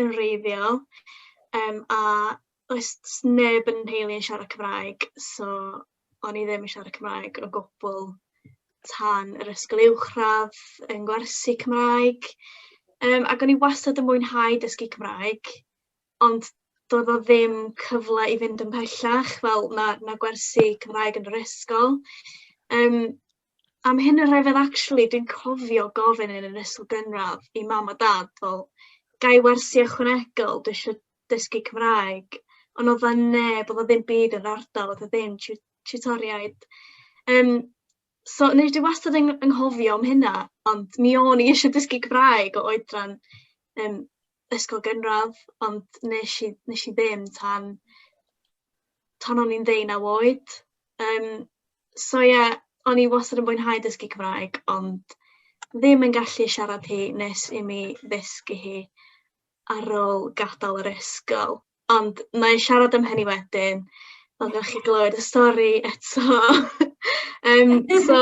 yn wreiddiol yym a does neb yn nheulu yn siarad Cymraeg so o'n i ddim yn siarad Cymraeg o gwbl tan yr ysgol uwchradd yn gwersi Cymraeg yym ac o'n i wastad yn mwynhau dysgu Cymraeg ond doedd o ddim cyfle i fynd yn pellach fel ma' ma' gwersi Cymraeg yn yr ysgol yym am hyn yn rhyfedd actually dwi'n cofio gofyn yn yr ysgol gynradd i mam a dad fel ga i wersi ychwanegol dwi isio dysgu Cymraeg ond o'dd 'na neb o'dd o ddim byd yn ardal o'dd o ddim tiw- tiwtoriaid yym so neu dwi wastad yn yng nghofio am hynna ond mi o'n i isio dysgu Cymraeg o oedran yym ysgol gynradd ond nesh i nesh i ddim tan tan o'n i'n ddeunaw oed yym so ie, o'n i wastad yn mwynhau dysgu Cymraeg, ond ddim yn gallu siarad hi nes i mi ddysgu hi ar ôl gadael yr ysgol. Ond wna i siarad am hynny wedyn, pan dach chi'n glywed y stori eto. um, so,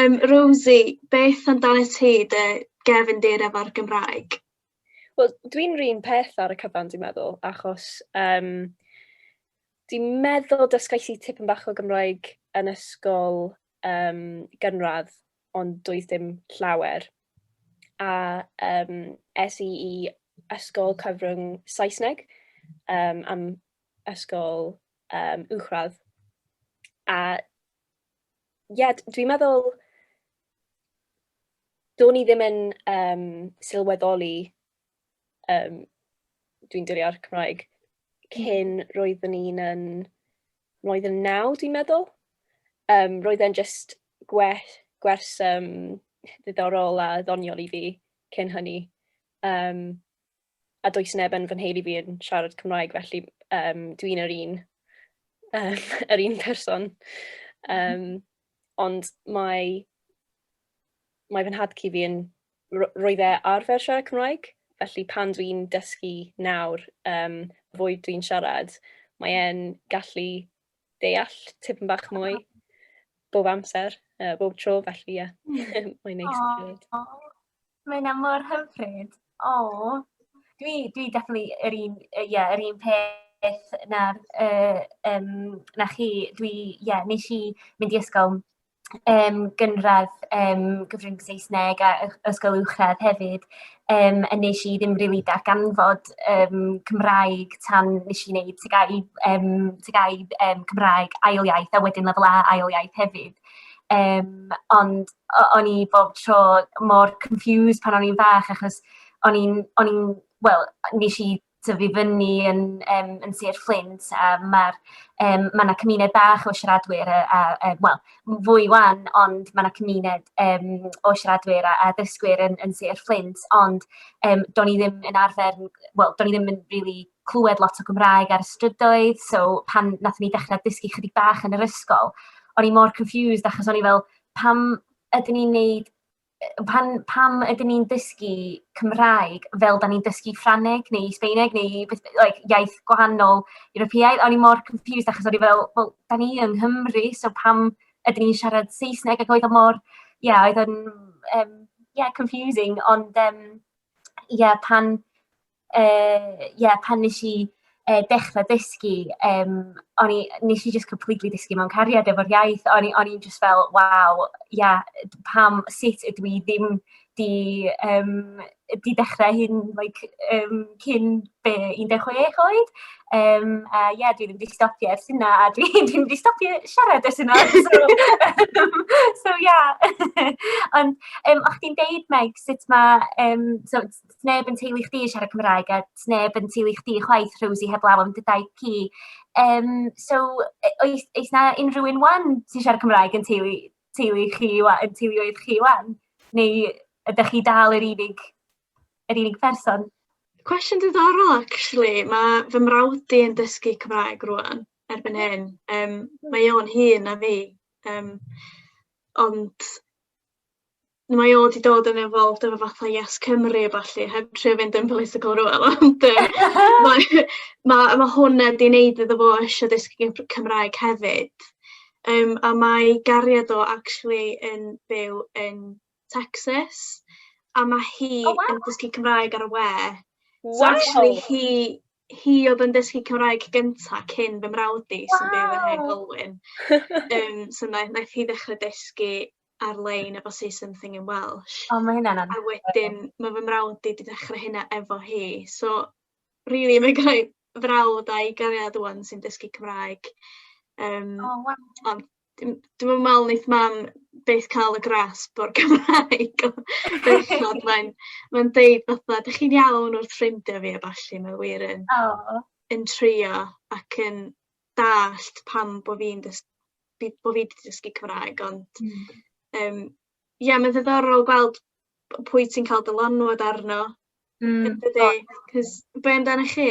um, Rosie, beth amdano ti dy gefn dir efo'r Gymraeg? Wel, dwi'n rhan peth ar y cyfan, dwi'n meddwl, achos um, Dwi'n meddwl dysgais i tipyn bach o Gymraeg yn ysgol um, gynradd, ond doedd dim llawer. A um, es i i ysgol cyfrwng Saesneg um, am ysgol um, uwchradd. A ie, yeah, dwi'n meddwl, do'n i ddim yn um, sylweddoli um, dwi'n dirio'r Cymraeg, cyn mm. roeddwn i'n yn, roedd yn naw, dwi'n meddwl. Um, roedd e'n just gwers, gwers um, ddiddorol a ddoniol i fi cyn hynny. Um, a does neb yn fy nheulu fi yn siarad Cymraeg, felly um, dwi'n yr un, um, yr un person. Um, ond mae mae fy nhad cu fi yn... ro- roedd e arfer siarad Cymraeg, felly pan dwi'n dysgu nawr yym fwy dwi'n siarad, mae e'n gallu deall tipyn bach mwy bob amser, yy bob tro felly ie mae'n neis i glywed. O ma' hynna mor hyfryd. O! Dwi dwi definly yr un yy ie yr un peth na'r yy yym na chi dwi ie nesh i mynd i ysgol yym gynradd yym gyfrwng Saesneg a ys- ysgol uwchradd hefyd yym a nesh i ddim rili darganfod yym Cymraeg tan nesh i neud TGAU yym TGAU yym Cymraeg ail iaith a wedyn lefel A ail iaith hefyd yym ond o- o'n i bob tro mor confused pan o'n i'n fach achos o'n i'n o'n i'n wel nesh i tyfu fyny yn yym yn Sir Fflint a ma'r yym ma' 'na cymuned bach o siaradwyr yy a yy wel fwy wan ond ma' 'na cymuned yym o siaradwyr a a dysgwyr yn yn Sir Fflint ond yym do'n i ddim yn arfer n- wel do'n i ddim yn rili clwed lot o Gymraeg ar y strydoedd so pan nathon ni dechre dysgu chydig bach yn yr ysgol o'n i mor confused achos o'n i fel pam ydyn ni'n neud pan, pam ydyn ni'n dysgu Cymraeg fel da ni'n dysgu Ffraneg neu Sbeineg neu like, iaith gwahanol Europeaidd. O'n i mor confused achos o'n i fel, wel, da ni yng Nghymru, so pam ydyn ni'n siarad Saesneg ac oedd o mor, ie, yeah, oedd yn, um, yeah, confusing, ond, um, ie, yeah, pan, yy ie, pan wnes i yy dechrau dysgu, yym, o'n i... wnes i jyst completely dysgu mewn cariad efo'r iaith. O'n i o'n i jyst fel, "waw, ia, pam... sut ydw i ddim 'di yym 'di dechrau hyn like yym cyn fy 16 oed?" Yym a ia, dwi ddim 'di stopio ers hynna, a dwi ddim 'di stopio siarad ers hynna! So ia! Ond yym o'ch chdi'n deud Meg sut ma' yym so... 'sneb yn teulu chdi yn siarad Cymraeg a 'sneb yn teulu chdi chwaith Rosie heblaw am dy daith ci yym so yy oes oes 'na unrhyw un 'wan sy'n siarad Cymraeg yn teulu teulu chi ŵa- yn teuluoedd chi 'wan neu ydach chi dal yr unig yr unig pherson? Cwestiwn diddorol actually ma' fy mrawd di yn dysgu Cymraeg rŵan erbyn hyn yym mae o'n hŷn na fi yym ond mae o 'di dod yn involved efo fatha Yes Cymru a ballu heb trio fynd yn political rŵan ond yy mae ma' ma' hwnna 'di neud iddo fo isio dysgu gymr- Cymraeg hefyd yym a mae gariad o actually yn byw yn Tecsas a ma' hi... O waw. ...yn dysgu Cymraeg ar y we. Waw. So actually hi hi oedd yn dysgu Cymraeg gynta cyn fy mrawd i sy'n byw yn Nhŷ Glyn. Yym so na- naeth hi ddechre dysgu ar-lein efo Say Something in Welsh. O ma' hynna'n anhygoel. A wedyn ma' fy mrawd i 'di dechre hynna efo hi so rili ma' gynna i frawd a'i gariad ŵan sy'n dysgu Cymraeg yym... O waw. ...ond Dwi'm dwi'm yn me'wl neith mam byth ca'l y grasp o'r Gymraeg o bechod mae'n mae'n deud fatha 'dych chi'n iawn wrth ffrindia fi a ballu mae wir yn... O. ...yn trio ac yn dallt pam bo' fi'n dys- fi bo' fi 'di dysgu Cymraeg ond... Hmm. ...yym ia ma'n ddiddorol gweld p- pwy ti'n ca'l dylanwad arno... Hmm. ...yndydi? 'C'os be' amdanach chi?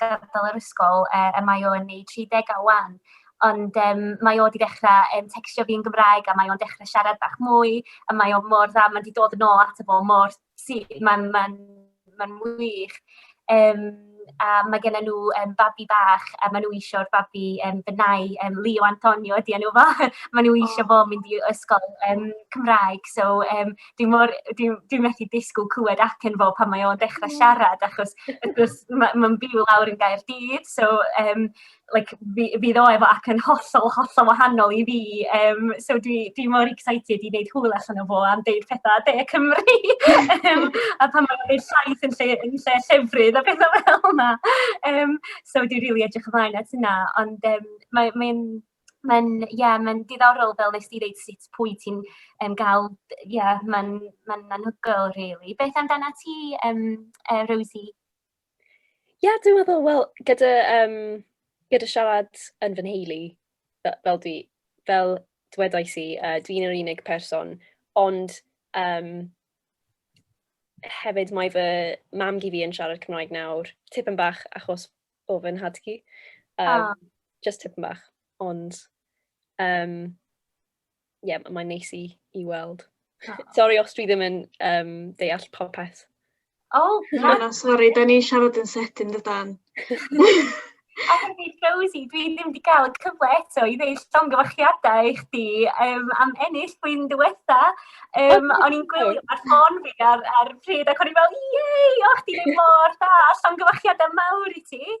gadael yr ysgol yy a mae o yn ei tri degau 'wan, ond yym mae o 'di dechra yym tecsio fi'n Gymraeg a mae o'n dechre siarad bach mwy a mae o mor dda, mae 'di dod yn ôl ato fo mor syth, ma'n ma'n ma'n wych. Yym a mae gennyn nhw yym babi bach a maen nhw isio'r babi yym fy nau yym Leo Antonio ydi enw fo maen nhw isio fo mynd i ysgol yym Cymraeg so yym dwi mor... dwi dwi methu disgwyl clywed acen fo pan mae o'n dechrau siarad, achos wrth gwrs ma' ma'n byw lawr yn Gaerdydd, so yym like fi fydd o efo acen hollol, hollol wahanol i fi, yym so dwi dwi mor excited i wneud hwyl allan o fo am deud petha De Cymru! yym a pan mae o'n deud llaeth yn lle yn lle llefrith a petha fel 'na! Yym so dwi rili edrych ymlaen at hynna, ond yym mae mae'n... Mae'n, ie, mae'n diddorol fel wnest ti ddeud sut pwy ti'n yym gael, ie, mae'n mae'n anhygoel rili. Beth amdanat ti yym yy Rosie? Ie, dwi'n meddwl, wel, gyda, um, gyda siarad yn fy nheulu, fel, dwi, fel dwedais i, uh, dwi'n yr unig person, ond um, hefyd mae fy mam gi fi yn siarad Cymraeg nawr, tipyn bach achos o fy nhad-cu. Yym... O! ...jyst tipyn bach, ond yym ie m- mae'n neis i i weld. O! Sori os dwi ddim yn yym deall popeth. O! Na, na, sori, 'dan ni'n siarad yn sydyn dydan? A hefyd Rosie dwi ddim 'di ga'l y cyfle eto i ddeud llongyfarchiadau i chdi yym am ennill blwyddyn diwetha. Yym, o'n i'n gwylio ar ffôn fi ar, ar y pryd ac o'n i'n fel, iei, o, chdi ddim mor da, llongyfachiadau mawr i ti.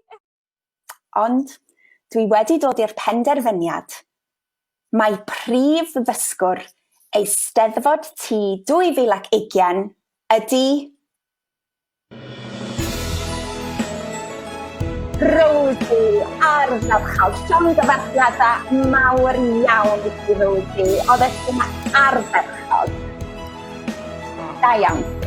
Ond dwi wedi dod i'r penderfyniad. Mae prif ddysgwr Eisteddfod T 2020 ydy Rosie, ardderchog. Llongyfarchiada mawr iawn i ti Rosie. Oeddet ti'n ardderchog. Da iawn.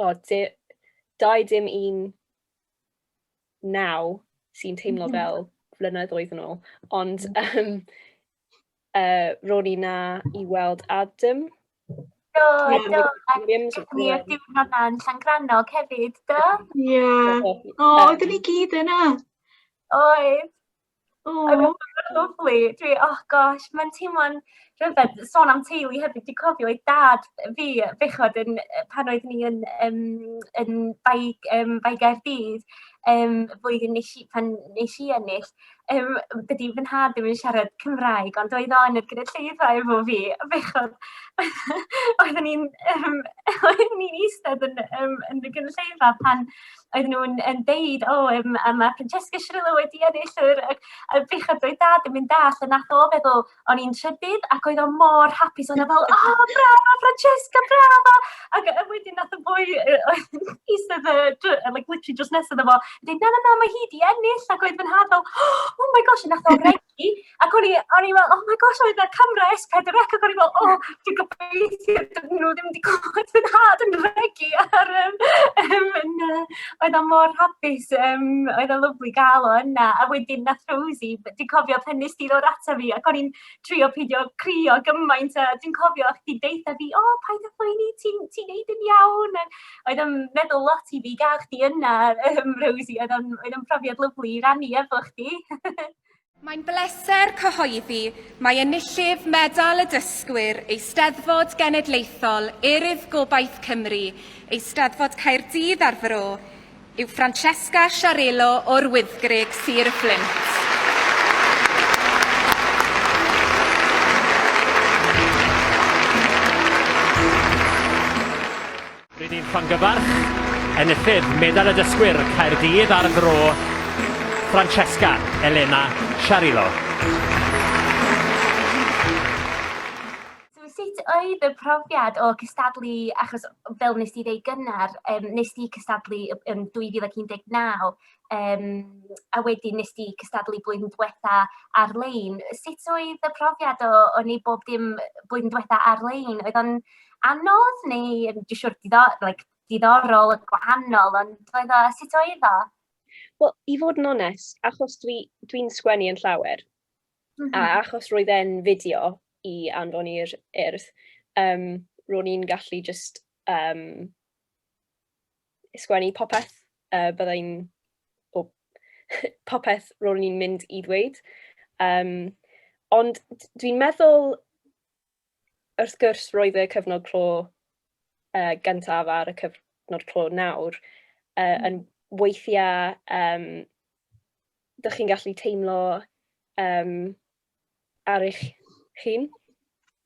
O, di- dau dim un naw sy'n teimlo fel flynedd oedd yn ôl, ond um, uh, ro'n i na i weld Adam. Do, do, ac ni oedd diwrnod na'n Llangrannog hefyd, do? Ie. O, oedden ni gyd yna. Oedd. Aww. Oedd e mor lyfli. Dwi o gosh, mae'n teimlo'n rhyfedd. Sôn am teulu hefyd, dwi'n cofio oedd dad fi bechod yn yy pan oeddwn i yn yym yn Bae yym Bae Caerdydd yym y flwyddyn wnes i pan wnes i ennill yym dydy fy nhad ddim yn siarad Cymraeg ond oedd o yn y gynulleidfa efo fi a bechod oeddwn i'n yym oeddwn i'n eistedd yn yym yn y gynulleidfa pan oedd nhw'n yn deud, o, um, a mae Francesca Cirillo wedi ennill yr, y, y bechod doedd dad yn mynd all, a nath o feddwl, o'n i'n trydydd, ac oedd o mor hapus, o'n fel, o, oh, bravo, Francesca, bravo! Ac a wedyn nath o fwy, oedd yn eistedd, like, literally just nesaf efo, dweud, na, na, na, mae hi di ennill, ac oedd fy nhad fel, oh my gosh, nath o greu Cymru, ac o'n i, o'n i fel, oh my gosh, oedd y camera S4C, ac o'n i fel, oh, dwi'n gobeithio, dyn nhw ddim wedi gwybod fy nhad yn regu ar um, um, yna. Oedd o mor hapus, um, oedd o lyflu gael o yna, a wedyn nath Rosie, dwi'n cofio pen nes di ddod ato fi, ac o'n i'n trio peidio crio gymaint, a dwi'n cofio chdi deitha fi, oh, paid â phoeni, ti'n ti neud yn iawn, oedd yn meddwl lot i fi gael chdi yna, um, Rosie. Oedd yn, oedd yn profiad lyflu i rannu efo chdi. Mae'n bleser cyhoeddi mae enillydd Medal y Dysgwyr Eisteddfod Genedlaethol Urdd Gobaith Cymru, Eisteddfod Caerdydd ar Fro, yw Francesca Sciarello o'r Wyddgrug, Sir y Fflint. Rydyn ni'n llongyfarch enillydd Medal y Dysgwyr Caerdydd a'r Fro, Francesca Elena Sciarello. So sut oedd y profiad o cystadlu, achos fel wnes ti ddweud gynnar, um, wnes ti cystadlu yn 2019, um, a wedyn wnes ti cystadlu blwyddyn diwetha ar-lein. Sut oedd y profiad o, o wneud bob dim blwyddyn diwetha ar-lein? Oedd o'n anodd neu, yn siwr, diddorol, like, diddorol, gwahanol, ond oedd o, sut oedd o? Wel, i fod yn onest, achos dwi'n dwi, dwi sgwennu yn llawer, Mm -hmm. A mhm. achos roedd e'n fideo i anfon i'r urdd, um, ro'n i'n gallu just um, sgwennu popeth, uh, byddai'n o, popeth ro'n i'n mynd i ddweud. Um, ond dwi'n meddwl wrth gwrs roedd y cyfnod clo uh, gyntaf ar y cyfnod clo nawr uh, yn weithiau um, dych chi'n gallu teimlo um, ar eich hun.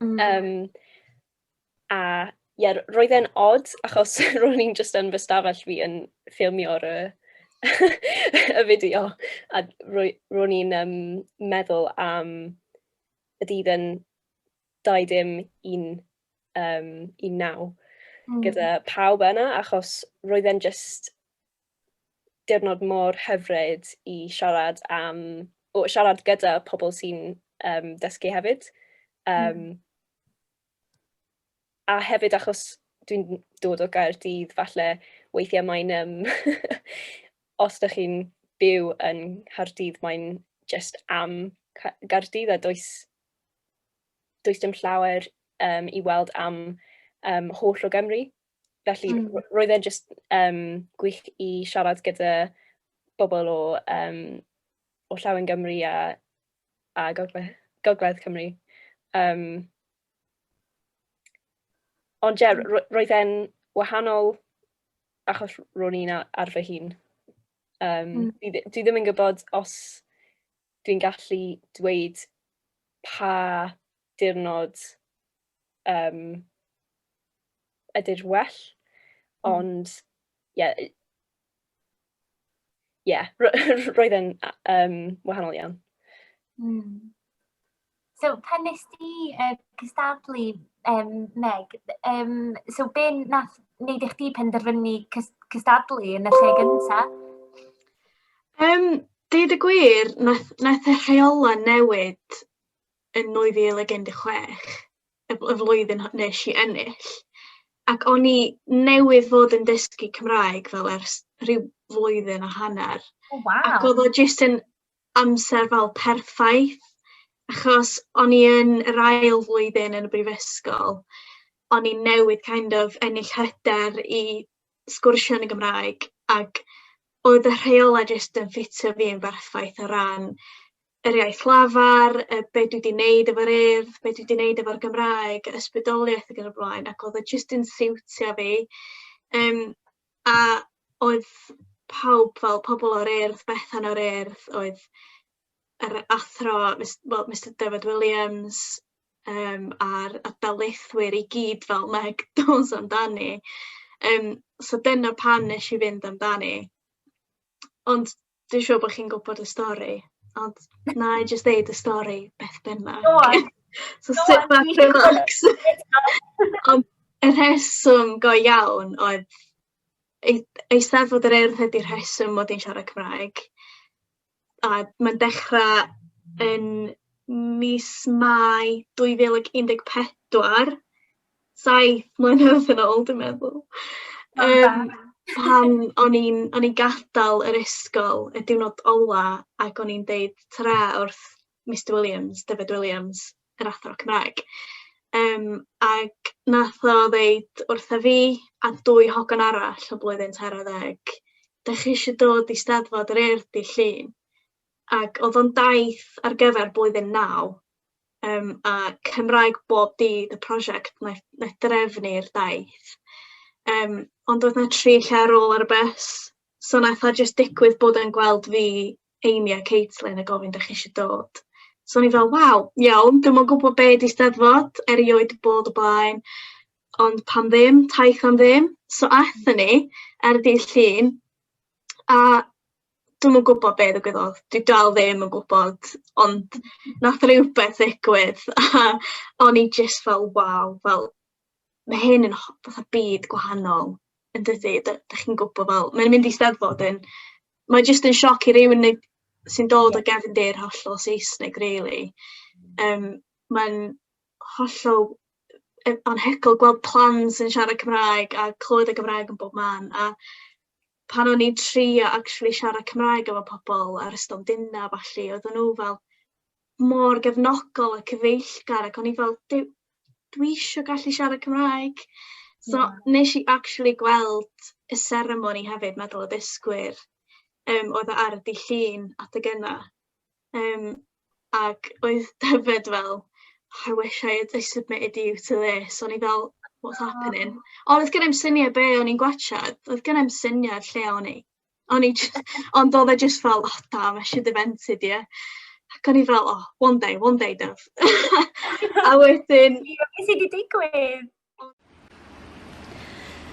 Mm. Um, a ie, yeah, roedd e'n odd achos ro'n i'n just yn fy stafell fi yn ffilmio'r y, y fideo a ro'n i'n um, meddwl am y dydd yn 21 um, 19 mm. gyda pawb yna achos roedd e'n just diwrnod mor hyfryd i siarad am, o, siarad gyda pobl sy'n um, dysgu hefyd. Um, mm. a hefyd achos dwi'n dod o Gaerdydd falle weithiau mae'n um, os ydych chi'n byw yn Nghaerdydd mae'n just am Gaerdydd a does, does dim llawer um, i weld am um, holl o Gymru. Felly mm. roedd e'n just um, gwych i siarad gyda bobl o, um, o llaw yn Gymru a a gogle gogledd Cymru. Um, ond ie, yeah, hmm. roedd e'n wahanol achos ro'n i'n ar fy hun. Um, mm. dwi, dwi ddim yn gwybod os dwi'n gallu dweud pa dirnod um, ydy'r well, mm. ond ie, yeah, ie, roedd e'n um, wahanol iawn. Mm. So, pan nes ti uh, cystadlu, um, Meg, um, so be nath wneud eich di penderfynu cystadlu yn y lle gyntaf? Um, Dweud y gwir, nath, nath y rheola newid yn 2016. y y flwyddyn h- nes i ennill ac o'n i newydd fod yn dysgu Cymraeg fel ers rhyw flwyddyn a hanner. O oh, wow. Ac oedd o jyst yn amser fel perffaith achos o'n i yn yr ail flwyddyn yn y brifysgol o'n i newydd kind of ennill hyder i sgwrsio yn y Gymraeg ac oedd y rheolau jyst yn ffitio fi yn berffaith o ran yr iaith lafar, y be dwi 'di neud efo'r Urdd, be dwi 'di neud efo'r Gymraeg, ysbrydoliaeth ag yn y blaen ac o'dd o jyst yn siwtio fi yym a oedd pawb fel pobol o'r Urdd, Bethan o'r Urdd, oedd yr athro mis- wel Mister Dyfed Williams yym a'r a'r darlithwyr i gyd fel Meg Dawes amdani yym so dyna pam nesh i fynd amdani. Ond Dwi'n siŵr bod chi'n gwybod y stori, ond wna i jyst ddeud y stori beth bynnag. Go on! So sit back and relax. Ond y rheswm go iawn oedd ei- Eisteddfod yr Urdd ydy'r rheswm mod i'n siarad Cymraeg, a mae'n dechrau yn mis Mai 2014. saith mlynedd yn ôl dwi'n meddwl yym pan o'n i'n o'n i'n gadal yr ysgol y diwrnod ola ac o'n i'n deud tara wrth Mister Williams, Dyfed Williams, yr athro Cymraeg yym ac nath o ddeud wrtha fi a dwy hogan arall o blwyddyn tair ar ddeg 'dach chi isio dod i Steddfod yr Urdd dydd Llun? Ac o'dd o'n daith ar gyfer blwyddyn naw Yym a Cymraeg bob dydd y prosiect wnaeth wnaeth drefnu'r daith. Yym ond oedd 'na tri lle ar ôl ar y bws, so wnaeth o jyst digwydd bod e'n gweld fi, Amy a Caitlin a gofyn 'dach chi isio dod? So o'n i fel waw iawn, dwi'm yn gwbod be' 'di 'Steddfod, erioed 'di bod o blaen ond pam ddim, taith am ddim. So aethon ni ar y dydd Llun a dwi'm yn gwbod be' ddigwyddodd. Dwi dal ddim yn gwbod ond nath rywbeth ddigwydd a o'n i jyst fel waw fel ma' hyn yn ho- fatha byd gwahanol yndydi? D- 'dych chi'n gwbo fel mae'n mynd i Steddfod yn mae jyst yn sioc i rywun neu sy'n dod o gefndir hollol Saesneg rili yym mae'n hollol yy anhygol gweld plant yn siarad Cymraeg a clywed y Gymraeg yn bob man a pan o'n i'n trio actually siarad Cymraeg efo pobl ar y stondinna a ballu, oedden nhw fel mor gefnogol a cyfeillgar ac o'n i fel dwi dwi isio gallu siarad Cymraeg. So yeah. nes i actually gweld y seremoni hefyd, medal y dysgwyr, um, oedd e ar y dydd Llun adeg yna. Yym, ac oedd Dyfed fel, "I wish I had I submitted you to this" o'n i fel "what's happening?" Ond doedd genna i'm syniad be o'n i'n gwatsiad, doedd genna i'm syniad lle o'n i, o'n i j- ond oedd e jyst fel "o da ma' Sir dy Fentud ie" ac o'n i fel "oh one day, one day Dyf" a wedyn... Be sy 'di digwydd?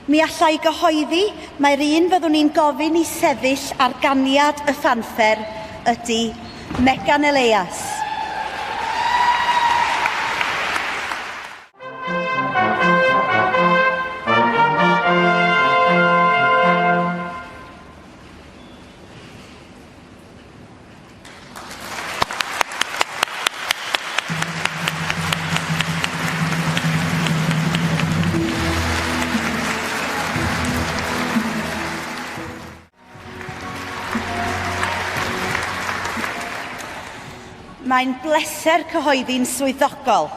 Mi alla i gyhoeddi mai'r un fyddwn i'n gofyn i sefyll ar ganiad y ffanffer ydy Megan Elias. Mae'n bleser cyhoeddi'n swyddogol.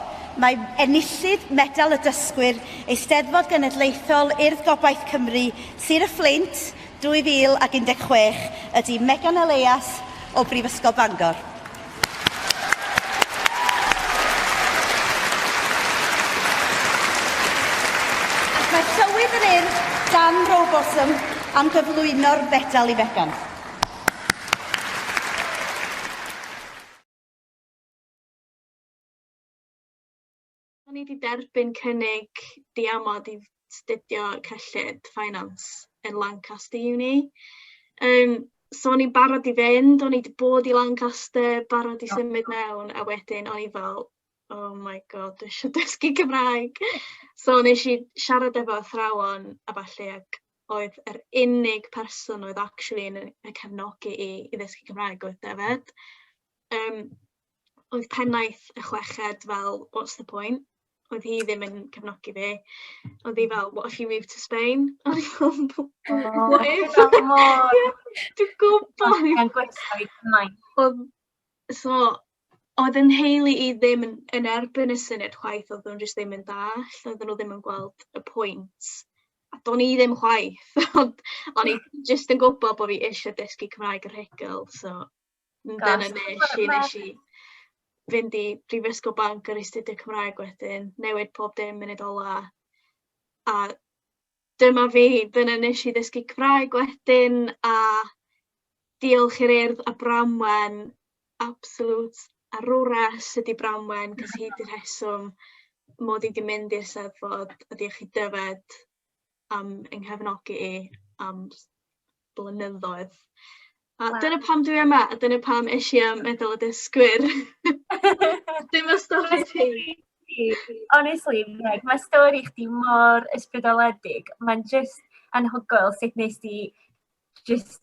Mae enillydd Medal y Dysgwyr, Eisteddfod Genedlaethol Urdd Gobaith Cymru, Sir y Fflint, 2016 ydy Megan Elias o Brifysgol Bangor. Ac mae'r tywydd yn urdd Dan Robotham am gyflwyno'r fedal i Megan. O'n i 'di derbyn cynnig diamod i studio cyllid finance yn Lancaster Uni. Yym, so o'n i'n barod i fynd, o'n i 'di bod i Lancaster, barod i symud mewn, a wedyn o'n i fel, oh my god, dwi isio dysgu Cymraeg. So wnes i siarad efo athrawon a ballu ac oedd yr unig person oedd actually yn y cefnogi i i ddysgu Cymraeg oedd Dyfed. Yym, oedd pennaeth y chweched fel what's the point? Oedd hi ddim yn cefnogi fi. Oedd hi fel what if you move to Spain? O'n i fel what if? Dwi'n gwybod! Mae'n gwella i gymaint. Oedd, so, oedd yn heili i ddim yn, yn erbyn y syniad chwaith, oedd nhw'n jyst ddim yn dall, oedd nhw ddim yn gweld y pwynt. A do'n i ddim chwaith, ond o'n i jyst yn gwybod bod fi eisiau dysgu Cymraeg yr hegel, so Dyna be wnes i, wnes i fynd i Brifysgol Bangor i astudio Cymraeg wedyn, newid pob dim munud ola, a dyma fi, dyna wnes i ddysgu Cymraeg wedyn, a diolch i'r Urdd a Bramwen, absolute arwres ydi Bramwen, cos hi 'di rheswm mod i 'di mynd i'r Eisteddfod, a diolch i Dyfed, am yng nghefnogi i am blynyddoedd. A wow. dyna pam dwi yma, a dyna pam eisiau i am meddwl y dysgwyr. Dim y stori ti. Honestly, Meg, mae stori chdi mor ysbrydoledig. Mae'n just anhygoel sut nes di Just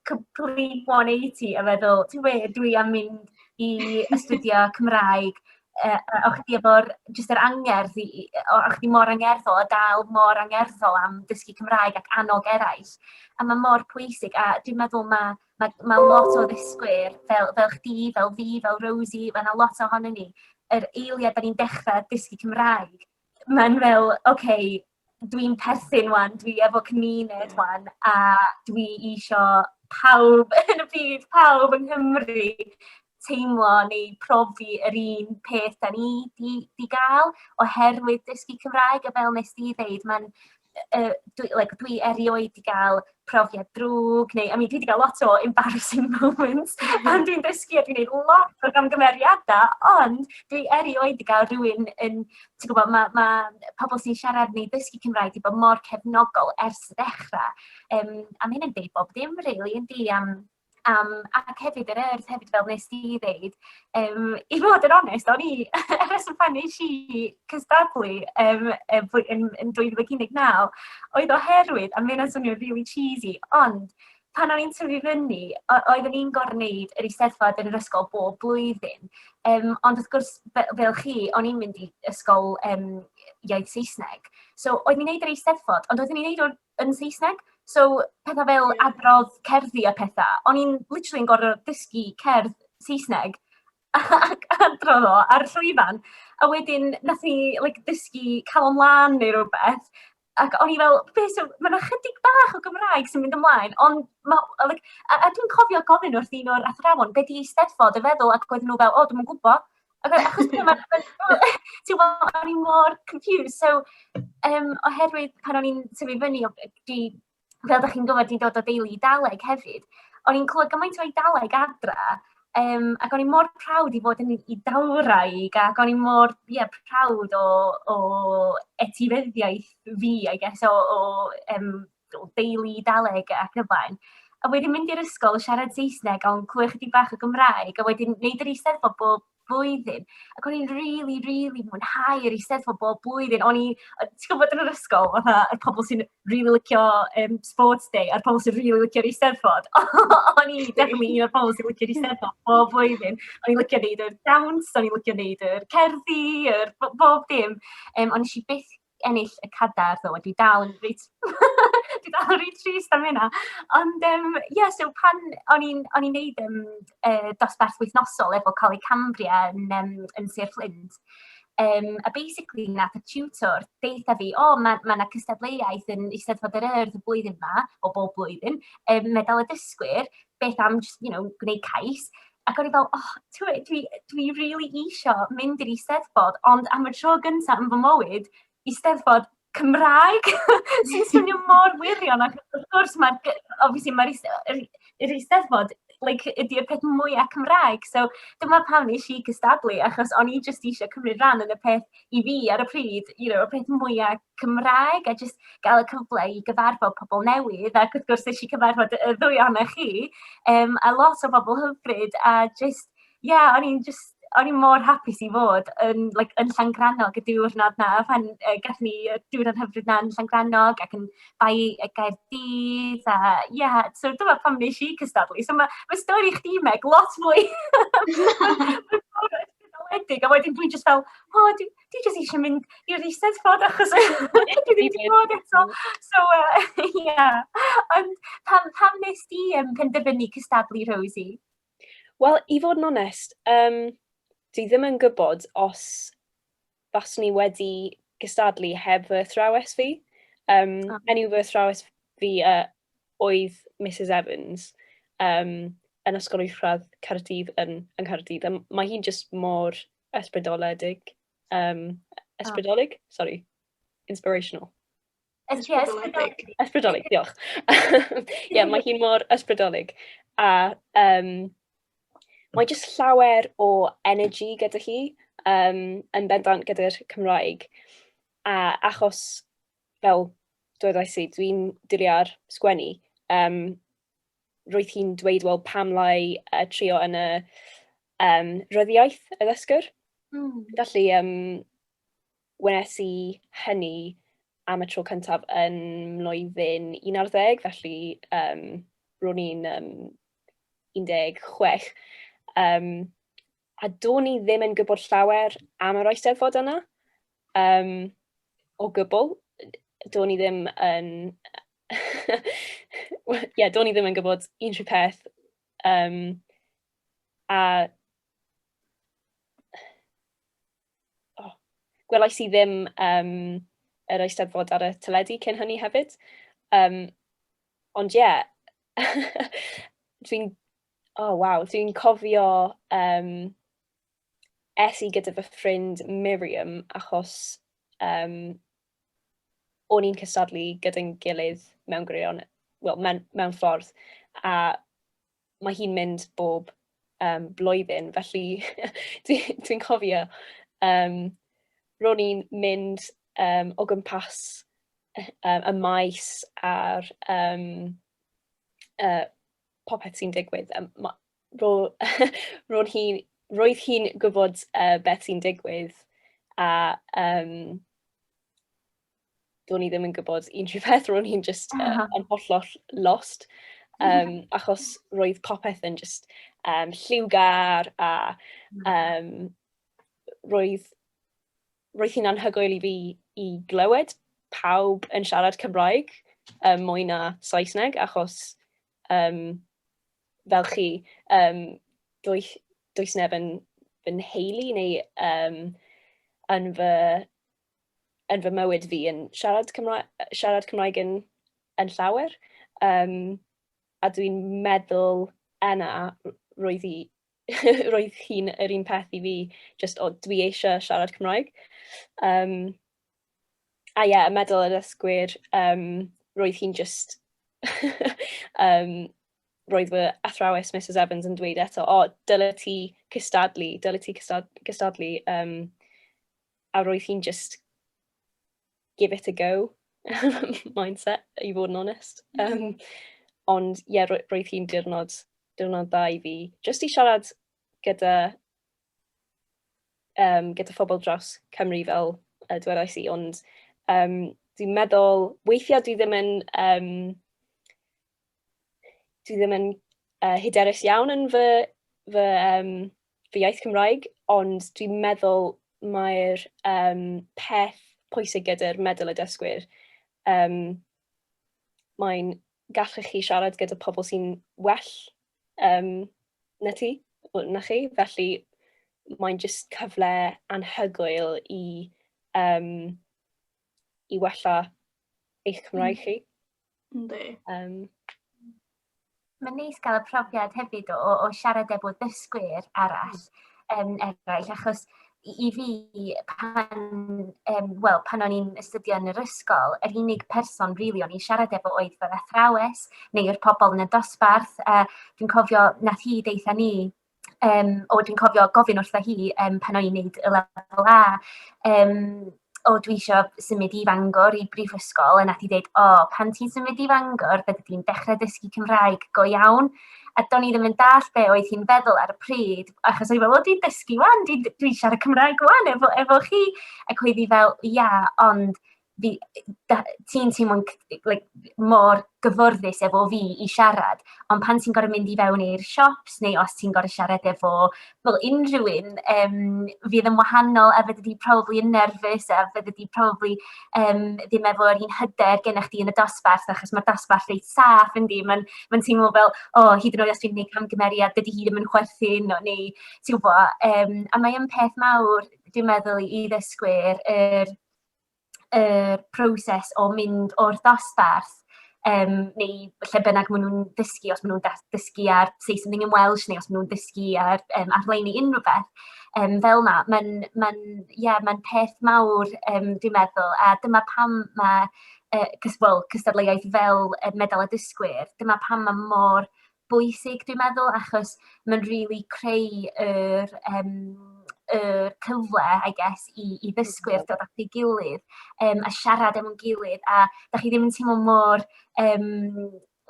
complete 180 a feddwl, ti'n gwybod, dwi am mynd i astudio Cymraeg, yy, a o'ch chdi efo'r, jyst yr angerdd i i... o- o'ch chdi mor angerddol a dal mor angerddol am dysgu Cymraeg ac annog eraill, a ma' mor pwysig, a dwi'n meddwl ma' ma' ma' lot o ddysgwyr fel fel chdi, fel fi, fel Rosie, ma' 'na lot ohonyn ni, yr eiliad 'dan ni'n dechra dysgu Cymraeg, ma'n fel, ocê... dwi'n perthyn 'wan, dwi efo cymuned 'wan, a dwi isio pawb yn y byd, pawb yng Nghymru teimlo neu profi yr un peth 'da ni 'di 'di ga'l oherwydd dysgu Cymraeg, a fel wnest ti ddeud, ma'n yy dwi like dwi erioed 'di ga'l profiad drwg, neu, I mean, dwi wedi cael lot o embarrassing moments pan dwi'n dysgu a dwi'n gwneud lot o gamgymeriadau, ond dwi erioed wedi cael rhywun yn, ti'n gwybod, mae ma pobl sy'n siarad neu ddysgu Cymraeg wedi bod mor cefnogol ers y dechrau. Um, a mae hyn yn dweud bob dim, rili, really, yndi, am Yym ac hefyd yr Urdd hefyd fel wnest ti ddeud yym i fod yn onest o'n i y rheswm pan es i cystadlu yym yy fwy- yn yn dwy fil ag un deg naw oedd oherwydd a ma' hynna'n swnio rili cheesy ond pan o'n i'n tyfu fyny o- oeddwn i'n gorfod wneud yr Eisteddfod yn yr ysgol bob blwyddyn yym ond wrth gwrs fe- fel chi o'n i'n mynd i ysgol yym iaith Saesneg so oeddwn i'n wneud yr Eisteddfod ond oeddwn i'n wneud o yn Saesneg. So petha fel adrodd cerddi a petha. O'n i'n literally yn gorfod dysgu cerdd Saesneg ac adrodd o ar y llwyfan. A wedyn wnaethon ni like dysgu Calon Lân neu rywbeth, ac o'n i fel, "be so-" Ma' 'na chydig bach o Gymraeg sy'n mynd ymlaen, ond ma' o like... a a dwi'n cofio gofyn wrth un o'r athrawon, "be 'di Eisteddfod?" a feddwl, ac oedden nhw fel, "o dwi'm yn gwybod". Ac achos ti'n gwybod, o'n i mor confused. So, um, oherwydd pan o'n i'n tyfu fyny, di, fel ydych chi'n gwybod, dwi'n dod o deulu Daleg hefyd. O'n i'n clywed gymaint o'i Daleg adra, um, ac o'n i'n mor prawd i fod yn i dawraig, ac o'n i'n mor yeah, prawd o, o etifeddiaeth fi, I guess, o, o um, o deulu Eidaleg ac yn y blaen, a wedyn mynd i'r ysgol, siarad Saesneg, ond clywed ychydig bach o Gymraeg, a wedyn wneud yr Eisteddfod bob blwyddyn. Ac o'n i'n rili, rili mwynhau yr Eisteddfod bob blwyddyn. O'n i, ti'n gwybod, yn yr ysgol, fatha, y pobl sy'n rili licio um, sports day a'r pobl sy'n rili licio'r Eisteddfod. o'n i definitely un o'r pobl sy'n licio'r Eisteddfod bob blwyddyn. O'n i'n licio wneud yr dawns, o'n i'n licio wneud yr cerddi, yr bob dim. Um, ond nes i byth ennill y cadair ddo, dwi dal yn reit dwi dal yn reit trist am hynna. Ond yym ie, so pan o'n i'n o'n i'n wneud yym yy dosbarth wythnosol efo Coleg Cambria yn yym yn Sir Fflint, yym a basically wnaeth y tiwtor deutha fi, "O, ma' ma' 'na cystadleuaeth yn Eisteddfod yr Urdd y flwyddyn 'ma, o bob blwyddyn, yym medal y dysgwyr, beth am jyst, you know, gwneud cais?" Ac o'n i fel, oh, tywed, dwi, dwi really isio mynd i'r Eisteddfod, ond am y tro gyntaf yn fy mywyd, Eisteddfod Cymraeg, sy'n swnio mor wirion, ac wrth gwrs, mae'r, obviously, mae'r Eisteddfod like, ydy'r peth mwyaf Cymraeg. So dyma pam nes i cystadlu, achos o'n i jyst eisiau cymryd rhan yn y peth i fi ar y pryd, you know, y peth mwyaf Cymraeg a jyst gael y cyfle i gyfarfod pobl newydd ac wrth gwrs nes i cyfarfod y ddwy ohonoch chi um, a lot o bobl hyfryd a jyst, ie, yeah, o'n i'n jyst o'n i'n mor hapus i fod yn, like, yn Llangrannog y diwrnod na, pan uh, gath ni y diwrnod hyfryd na yn Llangrannog ac yn bai y Gaerdydd a ie, yeah, so dyma pam nes i cystadlu. So mae ma stori chdi, Meg, lot mwy. Mae'n fawr a wedyn dwi'n just fel, o, oh, dwi jyst eisiau mynd i'r eisteddfod achos dwi ddim wedi bod eto. So, uh, yeah. Ond pam, pam nes di um, penderfynu cystadlu, Rosie? Wel, i fod yn onest, um, dwi ddim yn gwybod os faswn i wedi gystadlu heb fy thrawes fi. Um, oh. Enw fy thrawes fi uh, oedd Mrs Evans um, yn Ysgol Uwchradd Caerdydd yn, yn Caerdydd. Um, mae hi'n just mor Ysbrydoledig. Um, ysbrydolig? Oh. Sorry. Inspirational. Ysbrydolig. Ysbrydolig, diolch. Ie, yeah, mae hi'n mor ysbrydolig. A um, mae jyst llawer o energy gyda hi um, yn bendant gyda'r Cymraeg. A achos, fel dweud i si, dwi'n diliar sgwennu, um, roedd hi'n dweud, wel, pam lai uh, trio yn y um, ryddiaeth y ddysgwr. Mm. Felly, um, wnes i hynny am y tro cyntaf yn mlwyddyn 11, felly um, ro'n i'n um, 16. Um, a do'n i ddim yn gwybod llawer am yr Eisteddfod yna, um, o gwbl. Do'n i ddim yn... Ie, yeah, do'n i ddim yn gwybod unrhyw peth. Um, a... Oh, gwelais i ddim um, yr Eisteddfod ar y teledu cyn hynny hefyd. Um, ond ie, yeah, dwi'n O oh, waw, dwi'n cofio um, es i gyda fy ffrind Miriam achos um, o'n i'n cystadlu gyda'n gilydd mewn gwirion, well, mewn, mewn ffordd, a mae hi'n mynd bob um, blwyddyn, felly dwi'n dwi cofio, um, ro'n i'n mynd um, o gwmpas um, y maes a'r um, uh, popeth sy'n digwydd. Um, ma, ro, ro hi, roedd hi'n gwybod uh, beth sy'n digwydd a um, do'n i ddim yn gwybod unrhyw beth, ro'n i'n just uh, yn hollol lost. Um, achos roedd popeth yn just um, lliwgar a um, roedd roedd hi'n anhygoel i fi i glywed pawb yn siarad Cymraeg um, mwy na Saesneg, achos um, fel chi, um, does, does neb yn fy nheulu neu um, yn, fy, yn fy mywyd fi yn siarad Cymraeg, siarad Cymraeg yn, yn llawer. Um, a dwi'n meddwl yna roedd hi roedd hi'n yr un peth i fi, just o dwi eisiau siarad Cymraeg. Um, a ie, yeah, medal y dysgwyr, um, roedd hi'n just... um, roedd fy athrawes Mrs Evans yn dweud eto, o, oh, dyle ti cystadlu, dyle ti cystadlu, um, a roedd hi'n just give it a go mindset, i fod yn onest. Um, ond ie, yeah, roedd hi'n diwrnod, diwrnod dda i fi. Just i siarad gyda, um, gyda phobl dros Cymru fel uh, dwedais i, ond um, dwi'n meddwl, weithiau dwi ddim yn um, dwi ddim yn uh, hyderus iawn yn fy, fy, um, fy iaith Cymraeg, ond dwi'n meddwl mae'r um, peth pwysig gyda'r meddwl y dysgwyr. Um, mae'n gallu chi siarad gyda pobl sy'n well um, na ti, na chi, felly mae'n just cyfle anhygoel i, um, i wella eich Cymraeg mm. chi. Yndi. Um, Mae'n neis cael y profiad hefyd o, o, o siarad efo dysgwyr arall, um, eraill, achos i, i fi, pan, um, well, pan o'n i'n astudio yn yr ysgol, yr unig person rili really, o'n i'n siarad efo oedd fy athrawes neu'r pobl yn y dosbarth. Uh, dwi'n cofio nath hi deitha ni Yym, o dwi'n cofio gofyn wrtha hi yym pan o'n i'n wneud y lefel A, yym "o dwi isio symud i Fangor i brifysgol" a wnaeth hi ddeud "o pan ti'n symud i Fangor fyddi di'n dechrau dysgu Cymraeg go iawn". A do'n i ddim yn dallt be oedd hi'n feddwl ar y pryd, achos o'n i'n meddwl "wel dwi'n dysgu 'wan, dwi'n siarad Cymraeg 'wan efo efo chi". Ac oedd hi fel "ia, ond..." fi... da- ti'n teimlo'n c- like mor gyfforddus efo fi i siarad, ond pan ti'n gorfod mynd i fewn i'r siops neu os ti'n gorfod siarad efo, wel, unrhyw un, yym, fydd yn wahanol a fyddi di probably yn nerfus a fyddi di probably yym ddim efo'r un hyder gennych chdi yn y dosbarth achos mae'r dosbarth reit saff yndi, mae'n mae'n teimlo fel, o, hyd yn oed os dwi'n gwneud camgymeriad dydi hi ddim yn chwerthin o neu ti'n gwybod, yym a mae o'n peth mawr dwi'n meddwl i ddysgwyr yr... y proses o mynd o'r dosbarth yym neu lle bynnag maen nhw'n dysgu, os maen nhw'n da- dysgu ar Say Something in Welsh neu os maen nhw'n dysgu ar yym arlein i unrhyw beth yym fel 'na. Mae'n mae'n ie mae'n peth mawr yym dwi'n meddwl, a dyma pam ma' yy cys- wel cystadleuaeth fel yy Medal y Dysgwyr, dyma pam ma' mor bwysig dwi'n meddwl achos mae'n rili creu yr yym y cyfle I guess i i ddysgwyr dod at ei gilydd yym a siarad efo'n gilydd a dach chi ddim yn teimlo mor yym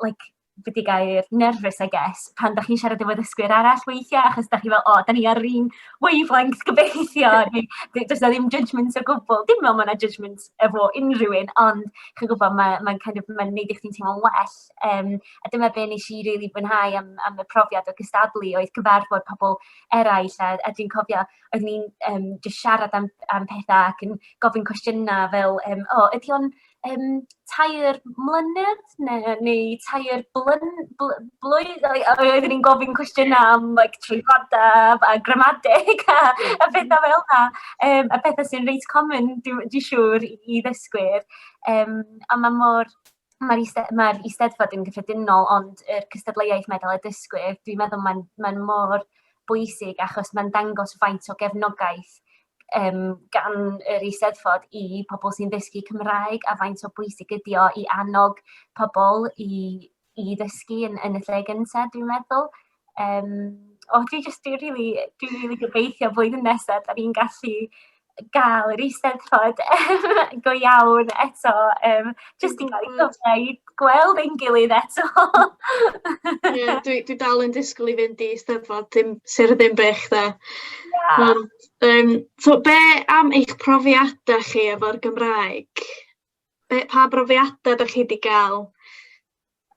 like be' 'di gair nervous I guess pan dach chi'n siarad efo ddysgwyr arall weithia' achos dach chi fel o 'dan ni ar yr un wavelength gobeithio neu d- does 'na ddim judgements o gwbwl dim me'wl ma' 'na judgements efo unrhyw un ond chi'n gwbod ma' mae'n kind of ma'n neud i chdi'n teimlo'n well Yym, a dyna be wnes i rili fwynhau am am y profiad o gystadlu, oedd cyfarfod pobl eraill. A a dwi'n cofio o'n ni'n yym jyst siarad am am petha ac yn gofyn cwestiyna' fel yym, "O, ydy o'n yym tair mlynedd ne' neu tair blyn- bly- blwydd?" A a oedden ni'n gofyn cwestiyna' am like traethodau a a gramadeg a a phetha fel 'na. Yym a petha sy'n reit common dwi dwi siŵr i i ddysgwyr. Yym a ma' mor Mae'r eiste- mae'r Eisteddfod yn gyffredinol, ond yr cystadleuaeth Meddal y Dysgwyr, dwi'n meddwl mae'n mae'n mor bwysig achos mae'n dangos faint o gefnogaeth yym gan yr Eisteddfod i pobl sy'n dysgu Cymraeg a faint o bwysig ydi o i annog pobl i i ddysgu yn yn y lle gynta dwi'n meddwl. Yym, o dwi jyst dwi rili dwi rili gobeithio blwyddyn nesa 'dan ni'n gallu ga'l yr Eisteddfod go iawn eto yym jyst i ga'l i gyfle i gweld ein gilydd eto. Ie dwi dwi dal yn disgwl i fynd i Eisteddfod dim Sir y Ddinbych 'de. Ia. Ond yym so be' am eich profiada chi efo'r Gymraeg? Be' pa brofiada 'dach chi 'di ga'l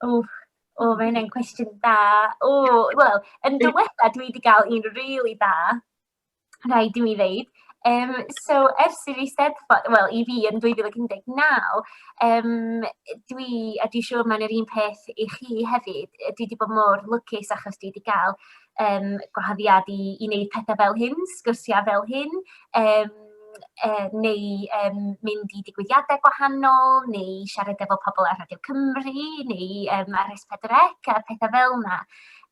O, o mae hynna'n cwestiwn da. O, wel, yn diwetha dwi wedi cael un rili da, rhaid i mi ddeud. Um, so, ers i fi steddfod, wel, i fi yn 2019, um, dwi, a dwi'n siŵr mae'n yr un peth i chi hefyd, dwi wedi bod mor lwcus achos dwi wedi cael um, gwahoddiad i, i wneud pethau fel hyn, sgwrsiau fel hyn. Um, eh, neu um, mynd i digwyddiadau gwahanol, neu siarad efo pobl ar Radio Cymru, neu um, ar S4C a pethau fel yna.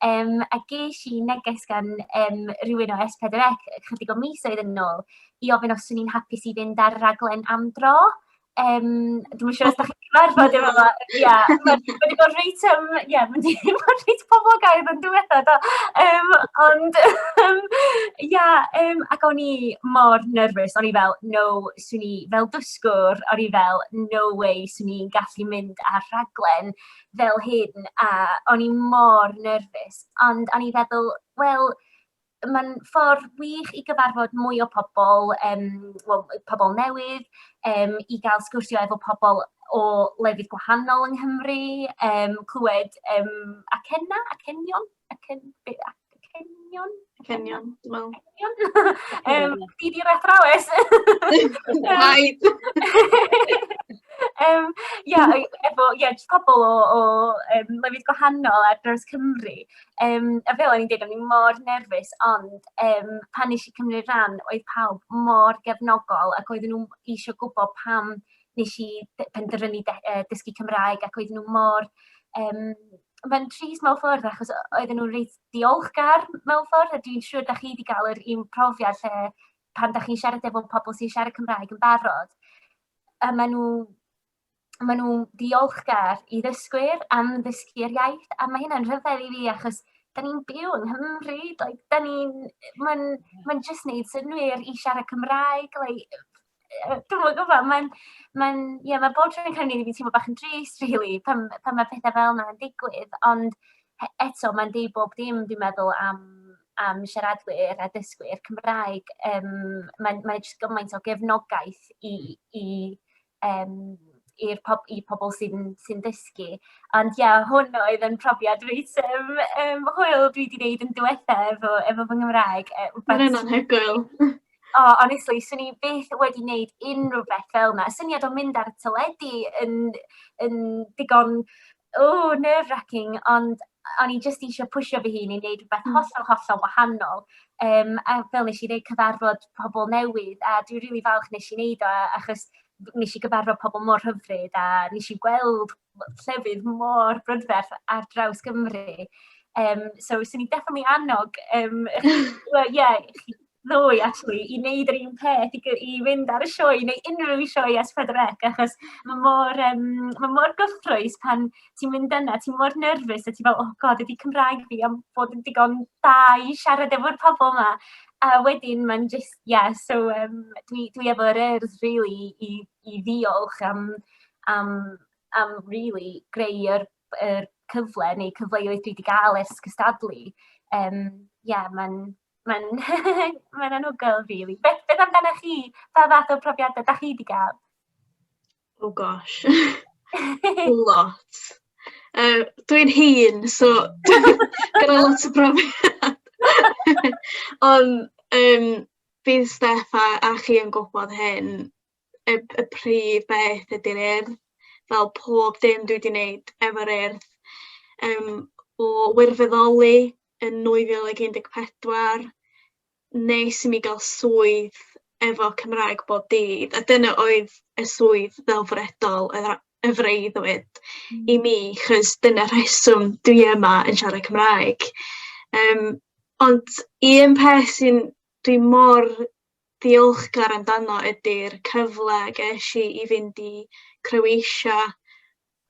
Um, a ges i neges gan um, rhywun o S4C chydig o misoedd yn ôl i ofyn os o'n i'n hapus i fynd ar raglen am dro. Yym, dwi'm yn siŵr os dach chi'n cyfarfod efo fo. Ia, mae wedi bod reit yym ia, mae wedi bod reit poblogaidd yn diwetha do. Yym, ond yym ia, yym ac o'n i mor nerfus, o'n i fel, no, 'swn i fel dysgwr, o'n i fel, no way, 'swn i'n gallu mynd ar rhaglen fel hyn, a o'n i mor nerfus. Ond o'n i'n feddwl, wel, mae'n ffordd wych i gyfarfod mwy o pobl, um, well, pobl newydd, um, i gael sgwrsio efo pobl o lefydd gwahanol yng Nghymru, um, clywed um, acenna, acenion, acen, acenion? Acenion, dwi'n meddwl. Acenion? um, di di'r athrawes. Rhaid. um, yeah, efo, yeah, pobl o, o um, lefydd gwahanol ar dros Cymru. Yym, a fel o'n i'n deud, o'n i mor nerfus, ond yym pan wnes i cymryd rhan oedd pawb mor gefnogol ac oedden nhw isio gwybod pam wnes i b- penderfynu de- yy dysgu Cymraeg ac oedden nhw mor yym mae'n trist mewn ffordd achos o- oedden nhw'n reit ddiolchgar mewn ffordd a dwi'n siŵr dach chi 'di gael yr un profiad lle pan dach chi'n siarad efo pobl sy'n siarad Cymraeg yn barod a maen nhw maen nhw'n ddiolchgar i ddysgwyr am ddysgu'r iaith, a mae hynna'n rhyfedd i fi achos da ni'n byw yng Nghymru, like, da ni'n, mae'n ma jyst neud synwyr i siarad Cymraeg, like, dwi'n mwyn gwybod, mae'n, mae'n, ie, yeah, mae bob tro yn cynnig i fi teimlo bach yn drist, really, pan, pan mae pethau fel yna yn digwydd, ond eto, mae'n deud bob dim, dwi'n meddwl, am, am siaradwyr a dysgwyr Cymraeg. Um, mae'n mae jyst gymaint o gefnogaeth i, i um, i'r pob, i pobl sy'n sy dysgu. Ond ia, yeah, hwn oedd yn profiad reit um, um, hwyl dwi wedi gwneud yn diwetha efo, efo fy Nghymraeg. Mae'n yna'n hegwyl. O, oh, honestly, swn i beth wedi gwneud unrhyw beth fel yna. Syniad o mynd ar y teledu yn, yn digon Ww, nerve-racking, ond o'n i jyst eisiau pwsio fy hun i wneud rhywbeth hollol, hollol wahanol. Um, a fel nes i ddeud, cyfarfod pobl newydd, a dwi'n rili really falch nes i wneud o, achos nes i gyfarfod pobl mor hyfryd, a nes i gweld llefydd mor brydferth ar draws Gymru. Um, so, swn i'n definitely annog, um, well, yeah, chi ddoe, actually, i wneud yr un peth, i, i fynd ar y sioe, neu unrhyw sioe as Pedrec, achos mae mor, um, mae mor gyffroes pan ti'n mynd yna, ti'n mor nerfus, a ti'n fel, oh god, ydy Cymraeg fi am bod yn digon da i siarad efo'r pobl yma. A wedyn, mae'n just, yeah, so um, dwi, dwi efo'r urdd, really, i, i ddiolch am, am, am really, greu yr, yr cyfle neu cyfleoedd dwi wedi gael ers cystadlu. Um, yeah, mae'n Mae'n mae'n anhygoel rili. Beth beth amdanoch chi? Pa fath o profiadau dach chi 'di ga'l? Oh gosh. Lot. Yy dwi'n hŷn so gyda lot o brofiad. Ond yym bydd Steff a a chi yn gwybod hyn y y prif beth ydy'r Urdd fel pob dim dwi 'di neud efo'r Urdd yym o wirfoddoli yn 2014, nes i mi gael swydd efo Cymraeg bob dydd, a dyna oedd y swydd ddelfrydol, y freuddwyd mm. i mi, chys dyna rheswm dwi yma yn siarad Cymraeg. Um, ond i un peth sy'n dwi mor ddiolchgar amdano ydy'r cyfle ges i i fynd i Croatia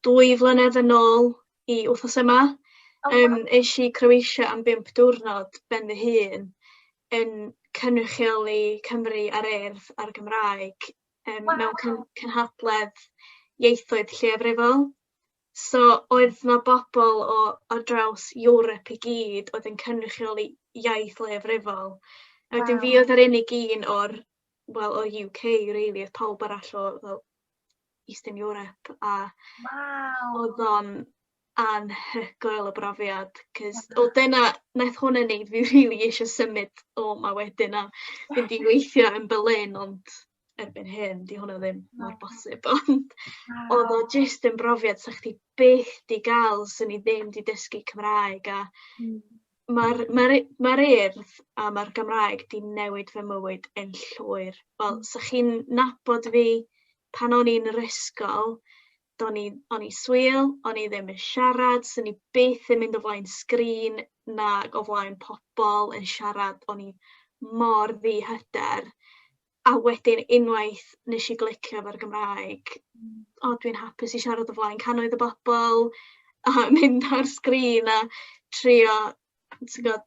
dwy flynedd yn ôl i wythnos yma. Oh, wow. um, eisiau i Croatia am bimp diwrnod ben fy hun yn cynrychioli Cymru ar erdd a'r Gymraeg um, wow. mewn cyn cynhadledd ieithoedd lleiafrifol. So oedd na bobl o ar draws Ewrop i gyd oedd yn cynrychioli iaith leiafrifol. A wedyn wow. fi oedd yr unig un o'r, well, o'r UK, really, oedd pawb arall o fel, Eastern Europe a wow. oedd o'n anhygoel y brofiad cys o dyna naeth hwnna neud fi rili eisiau symud o 'ma wedyn a fynd i weithio yn Berlin ond erbyn hyn 'di hwnna ddim mor bosib ond oedd o jyst yn brofiad 'sa chdi byth 'di ga'l 'swn i ddim 'di dysgu Cymraeg a hmm. Mae'r mae'r u- mae'r Urdd a ma'r Gymraeg 'di newid fy mywyd yn llwyr. Wel, 'sa chi'n nabod fi pan o'n i'n yr ysgol, do'n i o'n i swil, o'n i ddim yn siarad, 'swn i byth yn mynd o flaen sgrin nag o flaen pobol yn siarad, o'n i mor ddihyder. A wedyn unwaith nes i glicio efo'r Gymraeg, o dwi'n hapus i siarad o flaen cannoedd o bobl a mynd ar sgrin a trio ti'n gwbod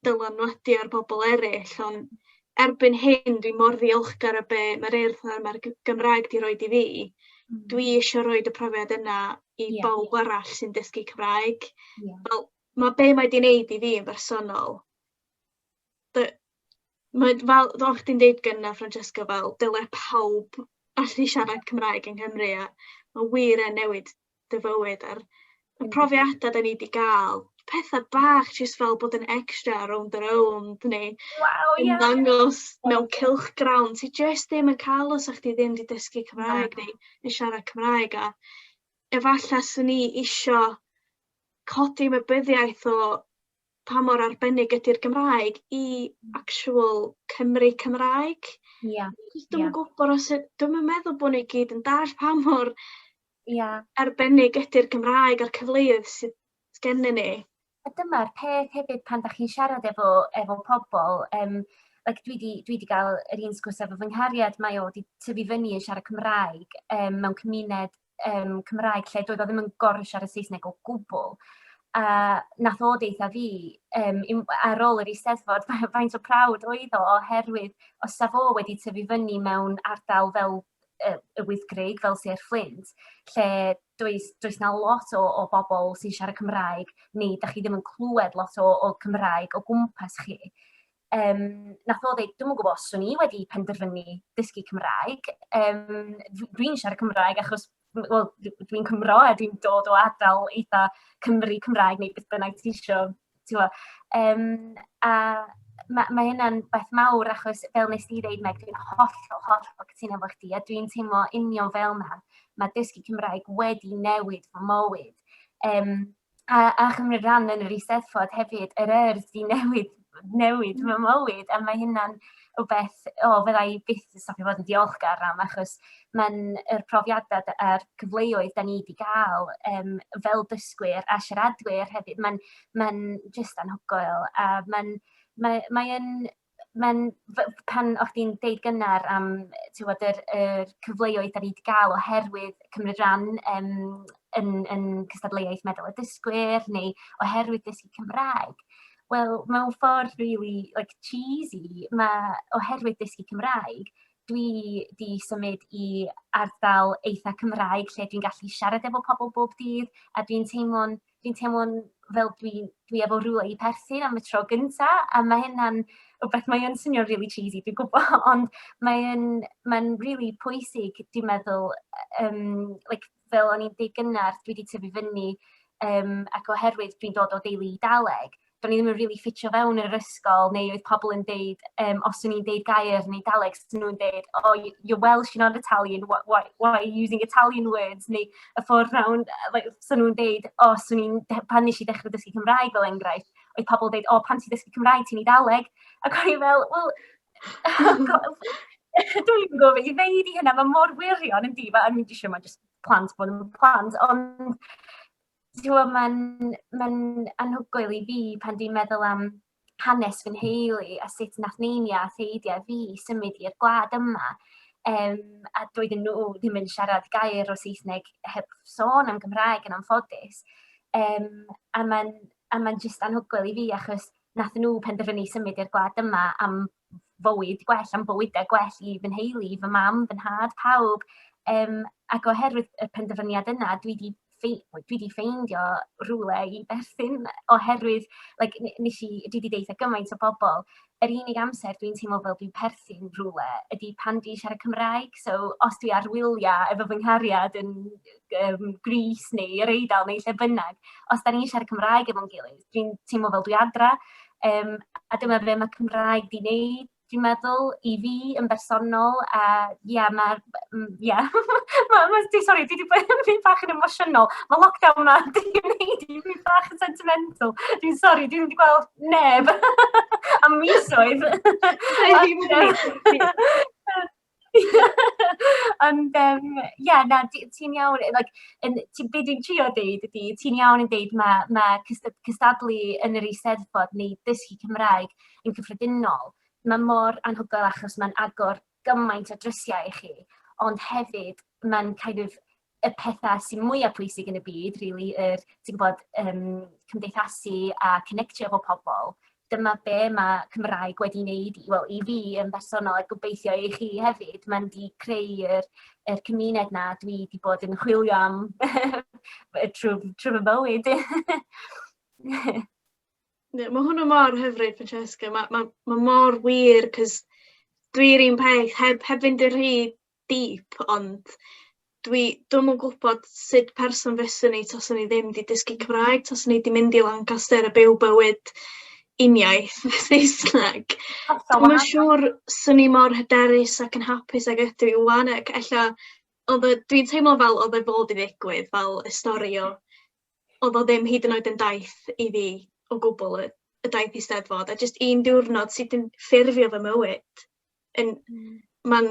dylanwadu ar bobl eryll ond erbyn hyn dwi mor ddiolchgar o be' ma'r Urdd a ma'r G- Gymraeg 'di roid i fi. Hmm. Dwi isio roid y profiad yna i yeah. bawb arall sy'n dysgu Cymraeg. Yeah. Wel, ma' be' mae 'di neud i fi yn bersonol dy- mae fel fel o'ch chdi'n deud gynne Francesca fel dyle pawb allu siarad Cymraeg yng Nghymru a ma' wir yn newid dy fywyd a'r y mm. profiada' 'dan ni 'di ga'l, petha bach jyst fel bod yn extra rownd a rownd neu Waw yn ie. dangos mewn cylchgrawn ti jyst ddim yn ca'l os o'ch chdi ddim 'di dysgu Cymraeg neu yn siarad Cymraeg a efalla 'swn i isio codi ymwybyddiaeth o pa mor arbennig ydi'r Gymraeg i actual Cymry Cymraeg. Ia ia. Achos dwi'm yn gwbod os yd- dwi'm yn meddwl bo' ni gyd yn dall pa mor Ia. arbennig ydi'r Gymraeg a'r cyfleoedd sydd sgennyn ni. A dyma'r peth hefyd pan 'dach chi'n siarad efo efo pobol yym like dwi 'di dwi 'di ga'l yr un sgwrs efo fy nghariad mae o 'di tyfu fyny yn siarad Cymraeg yym mewn cymuned um, Cymraeg lle doedd o ddim yn gorau siarad Saesneg o gwbl. A nath o deitha fi, um, ar ôl yr eisteddfod, faint o prawd oedd o, oherwydd os sa fo wedi tyfu fyny mewn ardal fel y Wyddgrug fel Sir Fflint, lle does, does na lot o, o bobl sy'n siarad Cymraeg, neu da chi ddim yn clywed lot o, o Cymraeg o gwmpas chi. Yym, wnaeth o ddeud, dwi'm yn gwybod os 'swn i wedi penderfynu dysgu Cymraeg. Yym, dw- dwi'n siarad Cymraeg achos, wel, d- dwi'n Cymro a dwi'n dod o ardal eitha Cymry Cymraeg neu beth bynnag ti isio, ti'n gwybod. Yym, a ma' ma' hynna'n beth mawr achos fel wnest ti ddeud Meg, dwi'n hollol, hollol cytuno efo chdi a dwi'n teimlo union fel 'na. Ma' dysgu Cymraeg wedi newid fy mywyd. Yym... a, a chymryd rhan yn yr Eisteddfod hefyd, yr er sy'n newid, newid fy mm. mywyd, a mae hynna'n rhywbeth, o, oh, fydda i byth yn stopio fod yn diolchgar am, achos mae'n yr profiadau a'r cyfleoedd da ni wedi cael um, fel dysgwyr a siaradwyr hefyd, mae'n mae just anhygoel, a mae'n mae, mae yn mae'n f- pan o'ch chdi'n deud gynnar am t'wod yr yr cyfleoedd 'dan ni 'di ga'l oherwydd cymryd ran yym yn yn cystadleuaeth meddal y dysgwyr neu oherwydd dysgu Cymraeg wel mewn ffordd rili like cheesy ma' oherwydd dysgu Cymraeg dwi 'di symud i ardal eitha Cymraeg lle dwi'n gallu siarad efo pobol bob dydd a dwi'n teimlo'n dwi'n teimlo'n fel dwi dwi efo rywle i perthyn am y tro gynta a ma' hynna'n rwbeth mae yn swnio'n rili cheesy dwi gwbo ond mae yn ma'n rili pwysig dwi'n meddwl yy yym like fel o'n i'n deu' gynne dwi 'di tyfu fyny yym ac oherwydd dwi'n dod o deulu Idaleg do'n i ddim yn rili ffitio fewn yn yr ysgol neu oedd pobl yn deud yym os o'n i'n deud gair yn Eidaleg 'sa nw'n deud oh you you're Welsh you're not Italian wha- wha- why are you using Italian words neu y ffordd rownd yy like 'sa nw'n deud o 'swn i'n de- pan nesh i dechre dysgu Cymraeg fel enghraifft oedd pobl deud o pan ti'n dysgu Cymraeg ti'n Eidaleg ac o'n i fel wel dwi'n gwybod beth i ddeud i hynna mae mor wirion yndi ma' o'n i isio ma' jyst plant bod yn plant ond Dwi'n mae'n ma anhygoel i fi pan dwi'n meddwl am hanes fy nheulu a sut nath neinia a theidiau fi symud i'r gwlad yma. Um, a doedden nhw ddim yn siarad gair o Saesneg heb sôn am Gymraeg yn anffodus. Um, a mae'n ma jyst anhygoel i fi achos nath nhw penderfynu symud i'r gwlad yma am fywyd gwell, am bywydau gwell i fy nheulu, i fy mam, fy nhad, pawb. Um, ac oherwydd y penderfyniad yna, dwi wedi dwi wedi ffeindio rhywle i berthyn oherwydd, like, nes i, dwi wedi deitha gymaint o bobl, yr unig amser dwi'n teimlo fel dwi'n perthyn rhywle ydy pan dwi'n siarad Cymraeg. So, os dwi ar wyliau efo fy nghariad yn um, Gris neu yr Eidal neu lle bynnag, os da ni'n siarad Cymraeg efo'n gilydd, dwi'n teimlo fel dwi adra. Um, a dyma fe mae Cymraeg di wneud, dwi'n meddwl, i fi yn bersonol. A ia, mae... Ia, ma, ma, di, sorry, dwi wedi bod yn mynd bach yn emosiynol. Mae lockdown yma, dwi'n gwneud i fi bach yn sentimental. Dwi'n sorry, dwi'n wedi gweld neb am misoedd. Ond, yym, ie, na, ti ti'n iawn. Like, yn, ti, be dwi'n trio deud ydy, ti'n iawn yn deud mae ma cysta- cystadlu yn yr Eisteddfod neu dysgu Cymraeg yn cyffredinol, mae mor anhygoel achos mae'n agor gymaint o drysiau i chi, ond hefyd mae'n kind of y pethau sy'n mwyaf pwysig yn y byd, really, yr, ti'n gwybod, um, cymdeithasu a connectio efo pobl. Dyma be mae Cymraeg wedi wneud i, well, i fi yn bersonol, a gobeithio i chi hefyd. Mae'n di creu'r er cymuned na dwi wedi bod yn chwilio am trwy, trwy fy bywyd. yeah, mae hwnna mor hyfryd, Francesca. Mae ma, ma mor wir, cys dwi'r un peth, heb, heb fynd yn rhy deep ond dwi dwi'm yn gwbod sud person fyswn i taswn i ddim 'di dysgu Cymraeg, taswn i 'di mynd i Lancaster a byw bywyd uniaith Saesneg. Dwi'm yn siŵr swn i mor hyderus ac yn hapus ag ydw i ŵan ac ella odd y dwi'n teimlo fel odd e fod i ddigwydd fel y stori o odd o ddim hyd yn oed yn daith i fi o gwbwl y y daith Eisteddfod a jyst un diwrnod sy 'di ffurfio fy mywyd. yn... mm... ma'n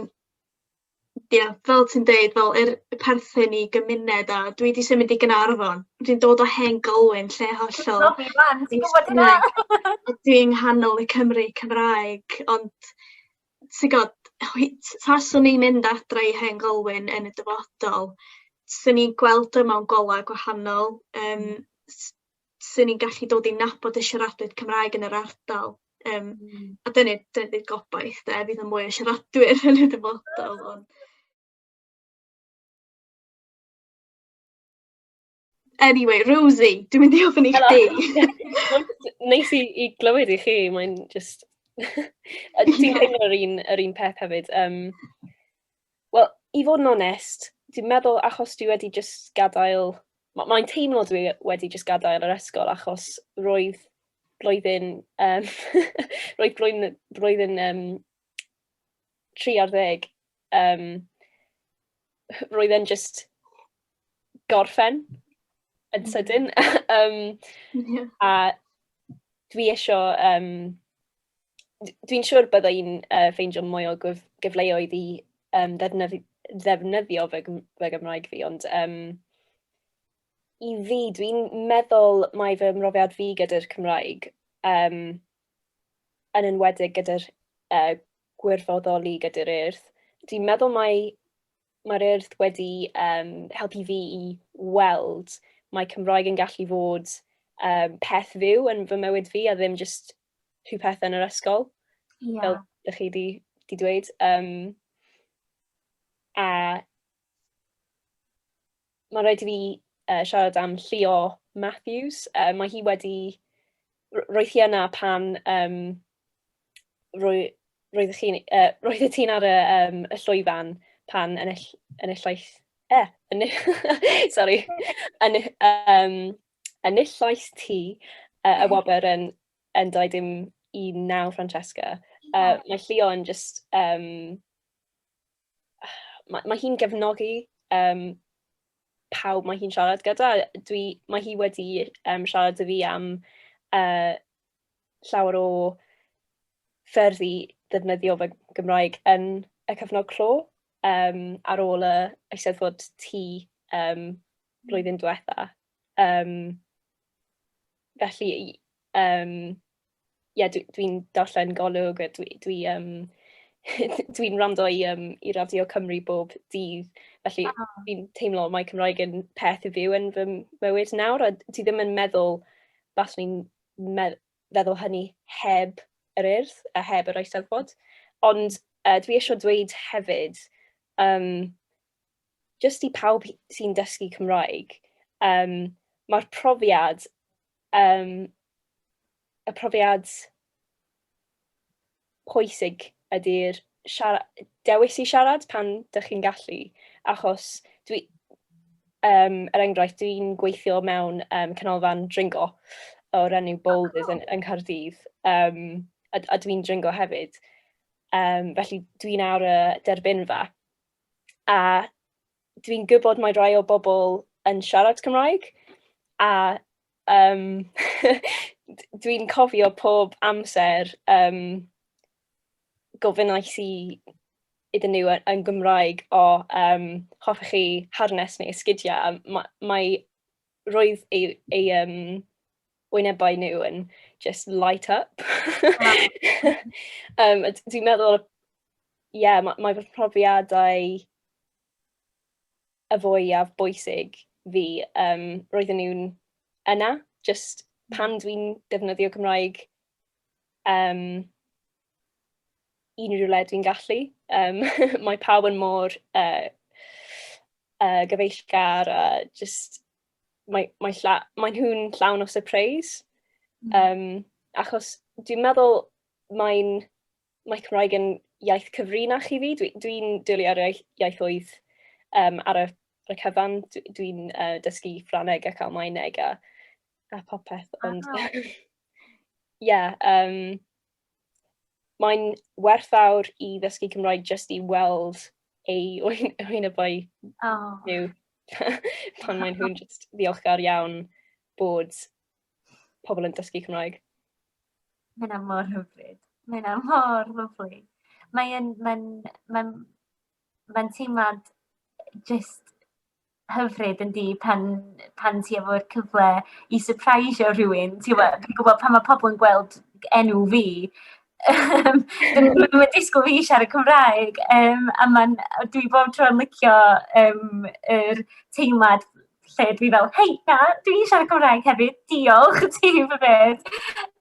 ia fel ti'n deud fel yr y perthyn i gymuned a dwi 'di symud i Gaernarfon dwi'n dod o hen Galwyn lle hollol... Nadi mam ti'n gwbod hynna! ...a dwi yng nghanol y Cymry Cymraeg ond ti g'od hwy- t- taswn i'n mynd adra i hen Galwyn yn y dyfodol swn i'n gweld o mewn gola gwahanol yym s- 'swn ni'n gallu dod i nabod y siaradwyr Cymraeg yn yr ardal, yym a dyna dyna ydi'r gobaith de, fydd 'na mwy o siaradwyr yn y dyfodol ond... Eniwe Rosie, dwi'n mynd i ofyn i chdi! Neis i i glywed i chi, mae'n jyst... Ti'n teimlo yr un yr un peth hefyd yym Wel, i fod yn onest, dwi'n meddwl achos dwi wedi jyst gadael... ma' mae'n teimlo dwi wedi jyst gadael yr ysgol achos roedd blwyddyn yym roedd blwyddyn y blwyddyn yym tri ar ddeg yym roedd e'n jyst gorffen yn mm. sydyn. um, yeah. A dwi eisiau... Um, dwi'n siŵr byddai i'n uh, ffeindio mwy o gyf gyfleoedd i um, ddefnyddio, ddefnyddio fy, fy Gymraeg fi, ond um, i fi, dwi'n meddwl mae fy mrofiad fi gyda'r Cymraeg, um, yn enwedig gyda'r uh, gwirfoddoli gyda'r urdd, dwi'n meddwl mae mae'r urdd wedi um, helpu fi i weld mae Cymraeg yn gallu fod um, peth fyw yn fy mywyd fi a ddim just rhyw peth yn yr ysgol, yeah. fel ydych chi di, di dweud. Um, a mae'n rhaid i fi uh, siarad am Llio Matthews. Uh, mae hi wedi... Roedd hi yna pan... Um, roedd, roedd chi'n... Uh, roedd y ti'n ar y, um, y llwyfan pan ennill, enillais... Eh, ennill... sorry. Ennill, um, enillais ti uh, y wobr yn, yn 21 Francesca. Uh, mae Llio yn just... Um, mae, mae hi'n gefnogi um, pawb mae hi'n siarad gyda. Dwi, mae hi wedi um, siarad â fi am uh, llawer o ffyrdd i ddefnyddio fy Gymraeg yn y cyfnod clo um, ar ôl y eisteddfod ti um, blwyddyn diwetha. Um, felly um, ie, yeah, dwi'n dwi darllen golwg, a dwi'n dwi, um, dwi'n rando i, um, i Radio Cymru bob dydd, felly oh. dwi'n teimlo mae Cymraeg yn peth i fyw yn fy mywyd nawr, a ti ddim yn meddwl, bas ni'n feddwl hynny heb yr urdd a heb yr eisteddfod. Ond uh, dwi eisiau dweud hefyd, um, jyst i pawb sy'n dysgu Cymraeg, um, mae'r profiad, um, y profiad pwysig ydy'r dewis i siarad pan dych chi'n gallu, achos dwi, um, er enghraifft, dwi'n gweithio mewn um, canolfan dringo o'r enw Boulders yn, yn Cardydd, um, a, a dwi'n dringo hefyd. Um, felly dwi'n ar y derbynfa a dwi'n gwybod mae rhai o bobl yn siarad Cymraeg a yym dwi'n cofio pob amser yym gofynnais i iddyn nhw yn yn Gymraeg "o yym hoffech chi harness neu esgidiau?" a ma' mae... roedd eu eu yym wynebau nhw yn jyst light up yym a d- dwi'n meddwl ie, mae, mae fy profiadau y fwyaf bwysig fi. Um, roedden nhw'n yna, just pan mm. dwi'n defnyddio Cymraeg um, unrhyw le dwi'n gallu. Um, mae pawb yn mor uh, uh, gyfeillgar a just mae, mae, lla, mae nhw'n llawn o surprise. Um, achos dwi'n meddwl mae'n mae Cymraeg yn iaith cyfrinach i fi. Dwi, dwi'n dwlu ar iaith, iaithoedd um, ar y, ar y cyfan. Dwi'n uh, dysgu Ffraneg ac Almaeneg a, a popeth. Ond, ah. yeah, um, mae'n werthfawr i ddysgu Cymraeg jyst i weld ei wyn, wyn y boi oh. nhw. pan maen nhw'n just ddiolchgar iawn bod pobl yn dysgu Cymraeg. Mae hynna mor hyfryd. Mae hynna mor lyflu. Mae'n mae mae mae teimlad just hyfryd yn di pan, pan ti efo'r cyfle i surprisio rhywun. Ti'n gwybod pan mae pobl yn gweld enw fi, Yym dyn nhw ddim yn disgwyl fi siarad Cymraeg yym a ma'n dwi bob tro yn licio yym yr teimlad lle dwi fel, hei, na, dwi eisiau siarad Cymraeg hefyd, diolch, ti yw fy beth.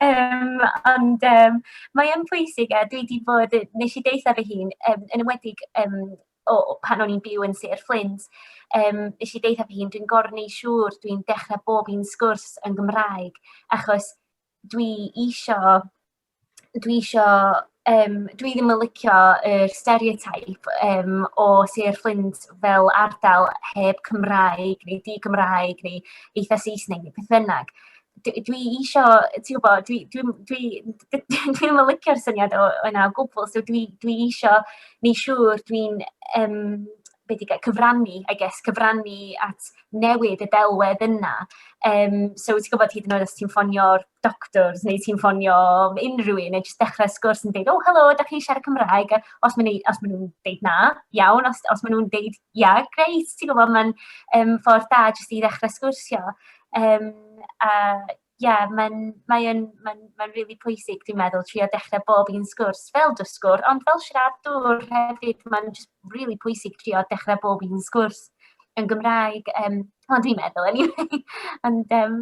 Um, ond um, mae yn pwysig, a dwi wedi bod, nes i deitha fy hun, um, yn ymwedig um, o, pan o'n i'n byw yn Sir Fflint, um, nes i deitha fy hun, dwi'n gorneu siŵr, dwi'n dechrau bob un sgwrs yn Gymraeg, achos dwi eisiau dwi isio... yym dwi ddim yn licio yr stereotype yym o Sir Fflint fel ardal heb Cymraeg neu di-Gymraeg neu eitha Saesneg neu beth bynnag. D- dwi isio, ti'n gwybod, dwi dwi'm dwi dwi'm yn licio'r syniad o- yna o gwbl. So dwi dwi isio wneud siŵr dwi'n yym... be di gael, cyfrannu, I guess, cyfrannu at newid y delwedd yna. Um, so, ti'n gwybod hyd yn oed os ti'n ffonio'r doctors neu ti'n ffonio unrhyw un, neu jyst dechrau sgwrs yn dweud, oh, helo, da chi siarad Cymraeg? Os maen nhw'n nhw dweud na, iawn. Os, os maen nhw'n dweud, ia, yeah, greit, ti'n gwybod, mae'n um, ffordd da jyst i ddechrau sgwrsio. Um, a Ie, mae'n mae yn mae'n mae'n rili pwysig dwi'n meddwl trio dechrau bob un sgwrs fel dysgwr, ond fel siaradwr hefyd, mae'n jyst rili pwysig trio dechrau bob un sgwrs yn Gymraeg, yym, wel dwi'n meddwl anyway. Ond yym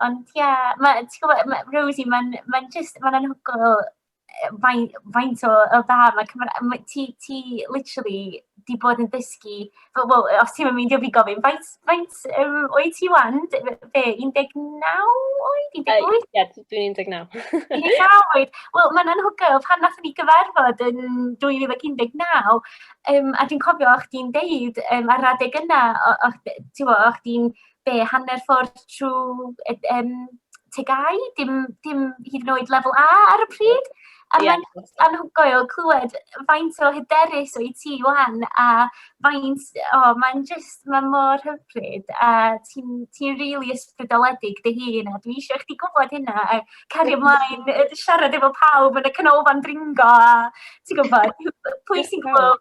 ond ie, ma' ti'n gwybod ma' Rosie mae'n mae'n jyst mae'n anhygoel faint, faint o, o da, mae Cymraeg, ma, ti, ti literally di bod yn dysgu, well, well, os ti'n mynd i fi gofyn, faint, faint um, oed ti wan? Be, 19 oed? 18? Uh, Ie, yeah, dwi'n 19. 19 oed. Wel, mae'n anhygoel, pan nath ni gyfarfod yn 2019, um, a dwi'n cofio o'ch di'n deud um, ar adeg yna, o'ch di'n be, hanner ffordd trwy y um, tegau, dim, dim hyd yn oed lefel A ar y pryd. A yeah. mae'n anhygoel clywed faint o hyderus o'i ti wan a faint, o, oh, mae'n just, mae mor hyfryd a ti'n ti really ysbrydoledig dy hun a dwi eisiau chdi gwybod hynna a cari ymlaen siarad efo pawb yn y canolfan dringo a ti'n gwybod, pwy sy'n gwybod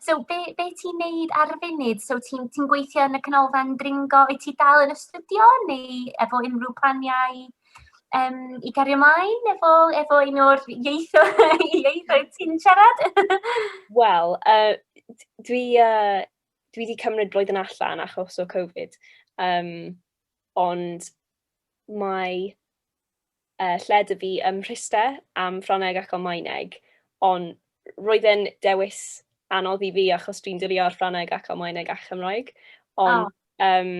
So be be ti'n neud ar y funud? So ti'n ti'n gweithio yn y Canolfan Dringo, wyt ti dal yn astudio neu efo unrhyw planiau yym i gario mlaen efo efo un o'r ieithoedd ieithoedd ti'n siarad? Wel, uh, dwi uh, dwi wedi cymryd blwyddyn allan achos o Covid. Um, ond mae uh, lle dwi fi ym Mhriste am Ffrangeg ac Almaeneg, ond roedd e'n dewis anodd i fi achos dwi'n dilio ar Ffrangeg ac Almaeneg a Chymraeg, ond oh. um,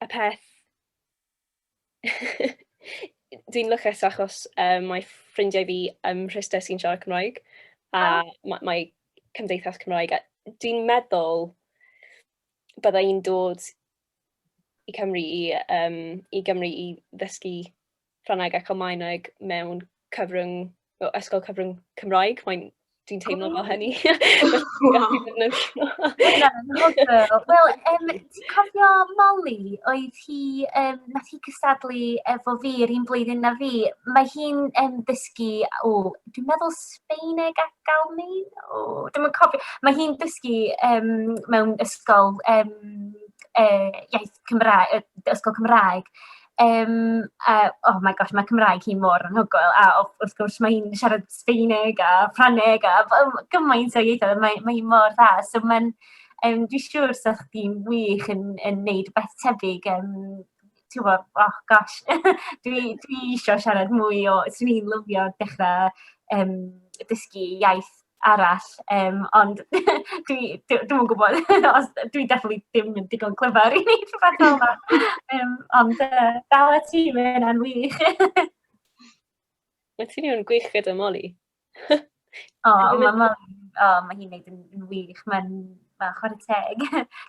y peth... dwi'n lycus achos um, mae ffrindiau fi ym Mhriste sy'n siarad Cymraeg a oh. mae, mae cymdeithas Cymraeg. Dwi'n meddwl byddai i'n dod i Cymru i, um, i Gymru i ddysgu Ffrangeg ac Almaeneg mewn cyfrwng, o, ysgol cyfrwng Cymraeg. Mae'n dwi'n teimlo fel hynny. Wel, um, ti'n cofio Molly, oedd hi, um, nath hi cystadlu efo fi yr un blwyddyn na fi. Mae hi'n um, ddysgu, o, dwi'n meddwl Feneg ac Almaeneg? O, dwi'm yn cofio. Mae hi'n dysgu yym mewn ysgol yym yy iaith Cymraeg, yy ysgol Cymraeg. Yym, a oh my gosh, mae Cymraeg hi mor anhygoel. A o- wrth gwrs mae hi'n siarad Sbaeneg a Ffrangeg a b- gymaint o ieithoedd, mae mae hi mor dda. So mae'n... yym dwi'n siŵr 'sech chdi'n wych yn yn wneud rywbeth tebyg yym tibod, oh gosh, dwi dwi isio siarad mwy o... 'swn i'n lyfio dechrau yym dysgu iaith arall, yym ond dwi dwi dwi'm yn gwybod os... dwi definitely ddim yn digon clyfar i wneud rhywbeth fel 'na! Yym ond yy dal at ti, mae hynna'n wych! Mae ti'n un gwych gyda Moli. O, mae ma, o, ma hi'n neud yn, yn wych, mae'n ma, chwarae teg.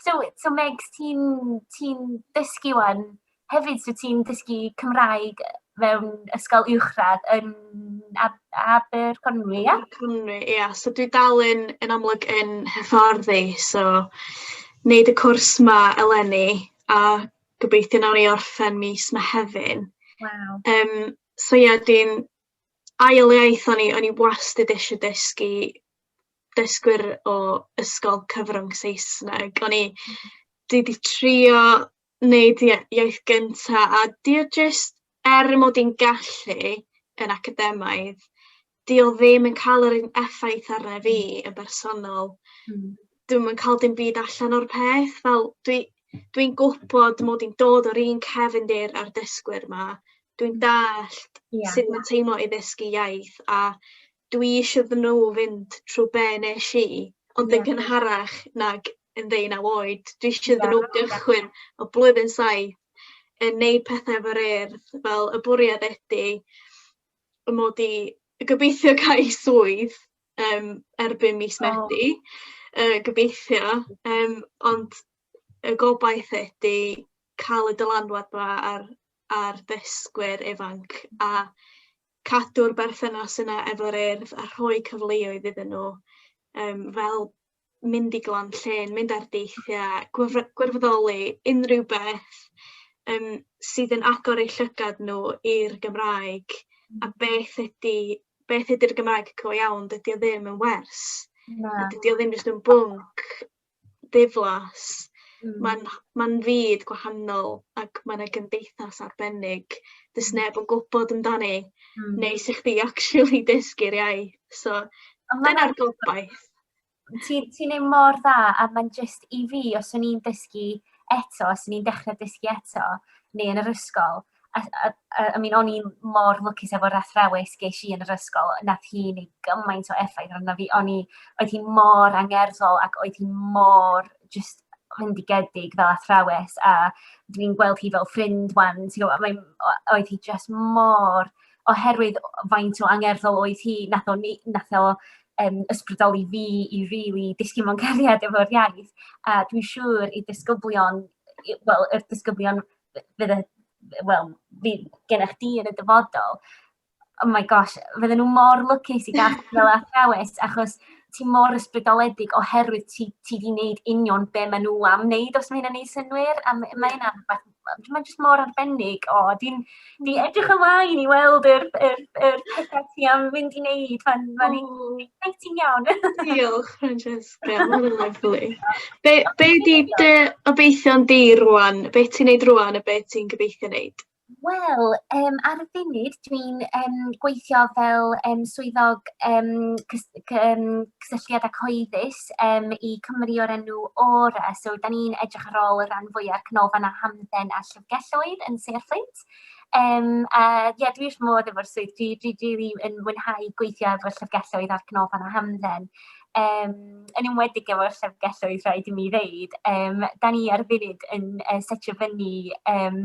so, so Megs, ti'n ti dysgu wan hefyd, so ti'n dysgu Cymraeg mewn ysgol uwchradd yn Ab Aberconwy, ia? Aberconwy, ia. So dwi dal yn, yn amlwg yn hyfforddi, so wneud y cwrs ma eleni, a gobeithio nawr i orffen mis Mehefin. Wow. Um, so ia, dwi'n ail iaith o'n i, o'n i wastad eisiau dysgu dysgwyr o ysgol cyfrwng Saesneg. O'n i 'di 'di trio wneud ia- iaith gynta, a 'di o jyst er mod i'n gallu yn academaidd, 'di o ddim yn cael yr un effaith arna fi yn bersonol... Mm. dwi'm yn cael dim byd allan o'r peth. Fel, dwi dwi'n gwybod mod i'n dod o'r un cefndir â'r dysgwyr 'ma. Dwi'n dallt yeah. sut mae'n teimlo i ddysgu iaith a dwi eisiau iddyn nhw fynd trwy be nes i, ond yn gynharach nag yn ddeunaw oed. Dwi eisiau iddyn nhw gychwyn o blwyddyn saith yn neud pethau efo'r urdd, fel y bwriad ydy mod i gobeithio cael swydd yym erbyn mis Medi... o. ...yy gobeithio yym ond y gobaith ydi ca'l y dylanwad 'ma ar ar ddysgwyr ifanc a cadw'r berthynas yna efo'r Urdd a rhoi cyfleoedd iddyn nhw yym fel mynd i glan llên, mynd ar deithiau, gwr- gwirfoddoli, unrhyw beth um, sydd yn agor eu llygad nhw i'r Gymraeg a mm. beth ydy beth ydy'r Gymraeg go iawn, dydy o ddim yn wers. Na. Dydy o ddim jyst yn bwnc diflas. Mm. Mae'n ma fyd gwahanol ac mae yna gymdeithas arbennig. Dys mm. neb yn gwybod amdani, mm. neu sy'ch chdi actually dysgu'r iaith. So, dyna'r gobaith. Ti'n ti neud mor dda, a mae'n jyst i fi, os o'n i'n dysgu eto, os o'n i'n dechrau dysgu eto, neu yn yr ysgol, a, a, a, I mean, o'n i'n mor lwcus efo'r athrawes geis i yn yr ysgol, nath hi neu gymaint o effaith arno fi, o'n i, oedd hi mor angerddol ac oedd hi mor just hyndigedig fel athrawes, a dwi'n gweld hi fel ffrind wan, ti'n gwybod, mae, oedd hi just mor, oherwydd faint o angerddol oedd hi, nath o, nath o yn ysbrydoli fi i rili disgyn mewn cariad efo'r iaith. A dwi'n siŵr i disgyblion, wel, y disgyblion fydd y, wel, fydd gennych di yn y dyfodol, oh my gosh, fydden nhw mor lwcus i gael fel athrawes, achos ti mor ysbrydoledig oherwydd ti, ti di wneud union be maen nhw am wneud, os mae hynny'n ei synwyr, a mae hynna'n rhywbeth mae'n jyst mor arbennig. O, dwi'n dwi hmm. edrych ymlaen i weld yr, yr, yr pethau ti am fynd i wneud. Mae'n ma exciting iawn. Diolch, Francesca. Mae'n lyflu. Be, be di dy obeithion di rwan? Be ti'n neud rwan a be ti'n gobeithio neud? Wel, um, ar y funud, Dwi'n yym gweithio fel yym swyddog yym cys- c- yym cysylltiad â cyhoeddus yym i cwmni o'r enw Aura. So 'dan ni'n edrych ar ôl y rhan fwya'r canolfan a hamdden a llyfrgelloedd yn Sir y Fflint. Yym a ie dwi wrth fy modd efo'r swydd dwi dwi rili yn mwynhau gweithio efo llyfrgelloedd a'r canolfan a hamdden. Yym yn enwedig efo'r llyfrgelloedd rhaid i mi ddeud. Yym 'dan ni ar y funud yn yy setio fyny yym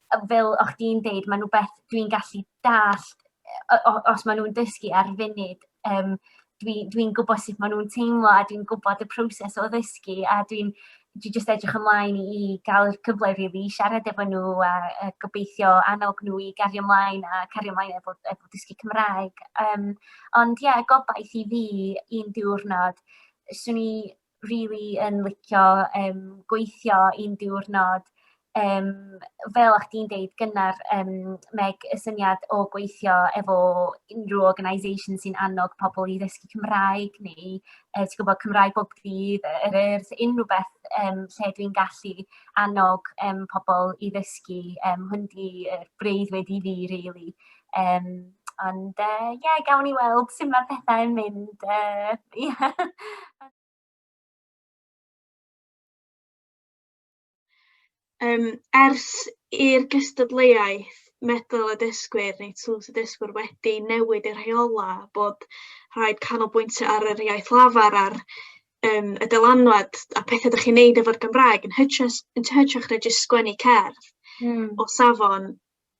fel o'ch di'n deud, mae'n rhywbeth dwi'n gallu dallt os maen nhw'n dysgu ar funud, um, dwi'n dwi, dwi gwybod sut maen nhw'n teimlo a dwi'n gwybod y proses o ddysgu a dwi'n dwi just edrych ymlaen i gael y cyfle rili really, i siarad efo nhw a, a gobeithio annog nhw i gario ymlaen a cario ymlaen efo, efo dysgu Cymraeg. Um, ond ie, yeah, gobaith i fi un diwrnod, swn i rili yn licio yym gweithio un diwrnod yym fel o'ch di'n deud gynnar yym Meg y syniad o gweithio efo unryw organisation sy'n annog pobl i ddysgu Cymraeg neu yy ti gwbod Cymraeg bob dydd yy yr yr s- unryw beth yym lle dwi'n gallu annog yym pobl i ddysgu yym hwn 'di yy breuddwyd i fi rili. Yym, ond yy ie, gawn ni weld sut ma' pethau'n mynd yy ie. Yym ers i'r gystadleuaeth medal y dysgwyr neu tlws y dysgwyr wedi newid y rheola bod rhaid canolbwyntio ar yr iaith lafar a'r um, y dylanwad a pethau ydych chi'n neud efo'r Gymraeg yn hytrach, yn hytrach na jyst sgwennu cerdd mm. o safon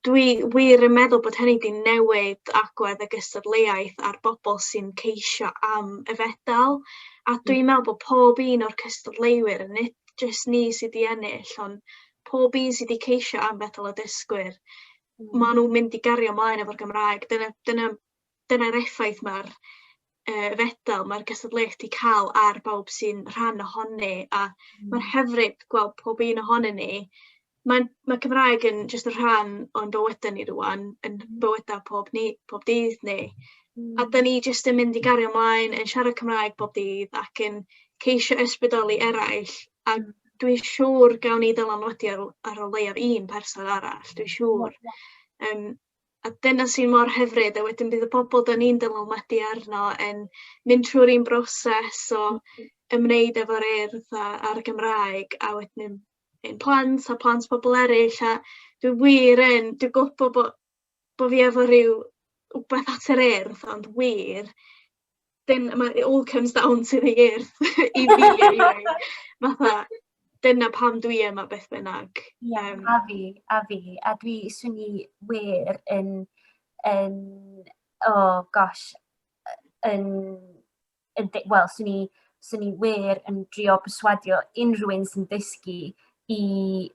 Dwi wir yn meddwl bod hynny 'di newid agwedd y gystadleuaeth a'r bobl sy'n ceisio am y fedal a hmm. dwi'n meddwl bod pob un o'r cystadleuwyr yn nid jyst ni sydd 'di ennill ond pob un sydd 'di ceisio am fedal y dysgwyr mm. ma' nhw'n mynd i gario ymlaen efo'r Gymraeg dyna dyna dyna'r effaith mae'r uh, fedal, mae'r gystadleuaeth wedi cael ar bawb sy'n rhan ohoni, a mm. mae'n hyfryd gweld pob un ohonyn ni. Mae, mae Cymraeg yn jyst yn rhan o'n bywydau ni rwan, yn mm. bywydau pob, ni, pob dydd ni. Mm. A da ni jyst yn mynd i gario ymlaen, yn siarad Cymraeg bob dydd ac yn ceisio ysbrydoli eraill. A mm. dwi'n siŵr gawn ni ddylanwadu ar, ar o leiaf un person arall, dwi'n siŵr. Um, a dyna sy'n mor hyfryd a wedyn bydd y bobl 'dan ni'n dylanwadu arno yn mynd trwy'r un broses o hmm. ymwneud efo'r urdd a a'r Gymraeg a wedyn ein plant a plant pobl eraill a dwi wir yn dwi gwybod bod bod fi efo rhyw wbeth at yr urdd ond wir dyn- ma' it all comes down to the earth i fi eniwe. Fatha dyna pam dwi yma beth bynnag. Ie, Yym. a fi, a fi. A dwi, swn i wir yn, yn, oh gosh, yn, yn, wel, swn i, swn i wir yn drio perswadio unrhyw un sy'n dysgu i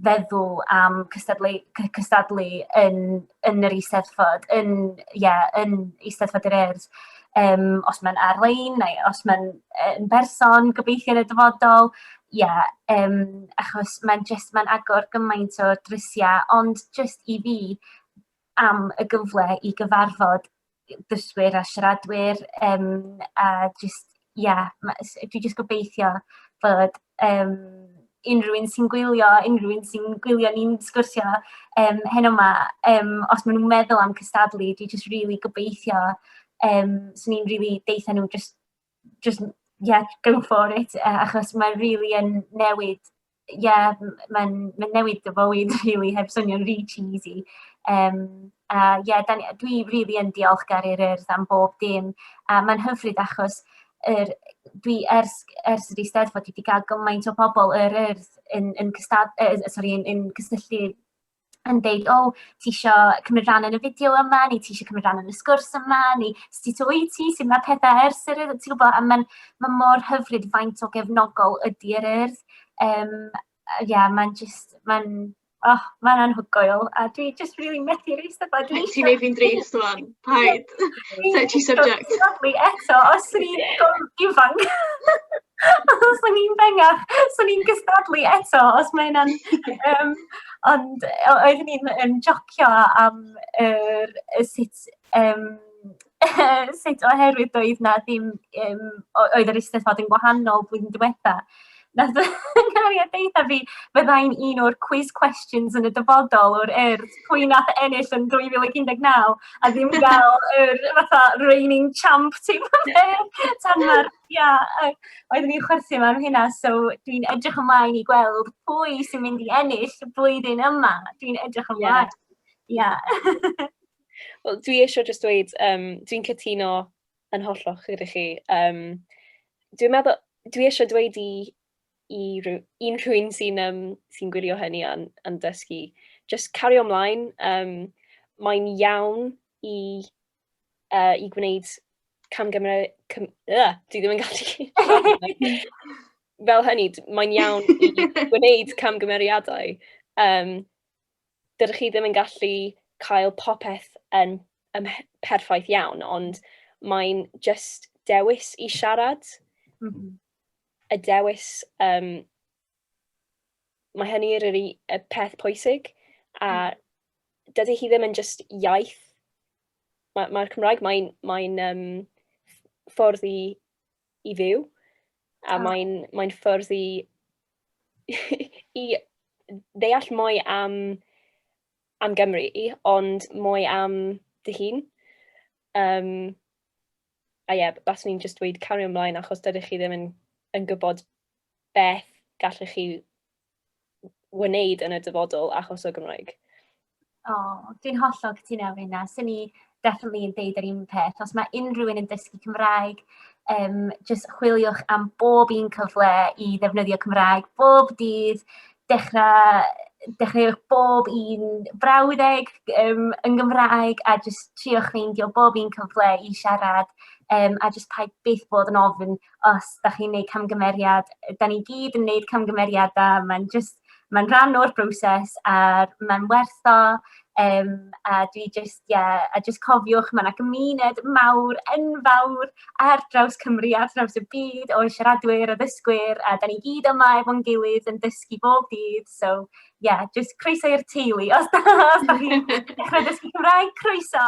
feddwl am cystadlu cy- cystadlu yn yn yr Eisteddfod, yn ie, yn Eisteddfod yr Urdd, yym, os mae'n ar-lein neu os mae'n yy yn berson, gobeithio yn y dyfodol, ie, yym, achos mae'n jyst, mae'n agor gymaint o drysiau, ond jyst i fi, am y gyfle i gyfarfod dysgwyr a siaradwyr yym a jyst ia ma' s- dwi jyst gobeithio bod yym unrhyw un sy'n gwylio unrhyw un sy'n gwylio ni'n sgwrsio yym heno 'ma yym os ma' nw'n meddwl am cystadlu dwi jyst rili gobeithio yym swn i'n rili deutha n'w jyst jyst ia go for it yy achos mae rili yn newid ie, mae'n mae'n newid dy fywyd rili heb swnio'n rhy cheesy. Yym a ie, 'dan ni dwi rili yn diolchgar i'r Urdd am bob dim a mae'n hyfryd achos yr dwi ers ers yr Eisteddfod dwi 'di ga'l gymaint o pobol yr Urdd yn yn cystad- yy sori yn yn cysylltu yn deud, "o, ti isio cymryd rhan yn y fideo yma, neu ti isio cymryd rhan yn y sgwrs yma, neu sut wyt ti, sut mae pethau ers yr urdd, ti'n gwybod, a mae'n ma mor hyfryd faint o gefnogol ydy yr urdd. Um, ie, yeah, mae'n just, mae'n, oh, mae'n anhygoel, a dwi just really methu reis yma. Ti'n ei fi'n drist, man. Paid. Touchy subject. Lovely eto, os swn i'n gwrdd ifanc. os swn i'n bengach, swn i'n gystadlu eto, os mae yna'n... Um, ond oedd ni'n yn jocio am er, sut... Um, sut oherwydd doedd na ddim... Um, oedd yr eisteddfod yn gwahanol blwyddyn diwetha. Wnaeth y cariad deutha fi fydda i'n un o'r quiz questions yn y dyfodol o'r urdd pwy nath ennill yn 2019 a ddim gael yr fatha reigning champ teip o beth. Tan ma'r, ia, yy, oeddwn i'n chwerthin am hynna, so dwi'n edrych ymlaen i gweld pwy sy'n mynd i ennill y blwyddyn yma. Dwi'n edrych Ie. ymlaen. Ia. Wel, dwi eisiau jyst dweud, um, dwi'n cytuno Yn hollol gyda chi. Yym dwi'n meddwl... Dwi isie dweud i i rywun... unrhywun sy'n yym sy'n gwylio hynny a'n a'n dysgu jyst cario ymlaen. Yym mae'n iawn i yy i gwneud camgymeriad cym- yy dwi ddim yn gallu siarad fel hynny, mae'n iawn i gwneud camgymeriadau yym... dydych chi ddim yn gallu cael popeth yn, yn perffaith iawn, ond mae'n just dewis i siarad. Mm -hmm. Y dewis, um, mae hynny yr y peth pwysig, a mm. dydy hi ddim yn just iaith. Mae'r mae Cymraeg, mae'n mae, um, ffordd i i fyw. A oh. mae'n mae ffwrdd i, i ddeall mwy am, am Gymru, ond mwy am dy hun. Um, a ie, yeah, baswn i'n just dweud cario ymlaen achos dydych chi ddim yn, yn gwybod beth gallwch chi wneud yn y dyfodol achos o Gymraeg. O, oh, dwi'n hollol cytuno efo hynna. Swn i definitely yn deud yr un peth. Os mae unrhyw un yn dysgu Cymraeg, um, just chwiliwch am bob un cyfle i ddefnyddio Cymraeg, bob dydd, dechrau, dechreuwch bob un brawddeg um, yn Gymraeg a just triwch ffeindio bob un cyfle i siarad um, a just paid byth bod yn ofyn os dach chi'n wneud camgymeriad, dan ni gyd yn wneud camgymeriadau, mae'n jyst... mae'n rhan o'r broses a mae'n werth o yym a dwi jyst ie a jyst cofiwch mae 'na gymuned mawr enfawr ar draws Cymru ar draws y byd o siaradwyr, addysgwyr a dan ni gyd yma efo'n gilydd yn dysgu bob dydd so ie jyst croeso i'r teulu os da chi'n dechrau dysgu Cymraeg, croeso!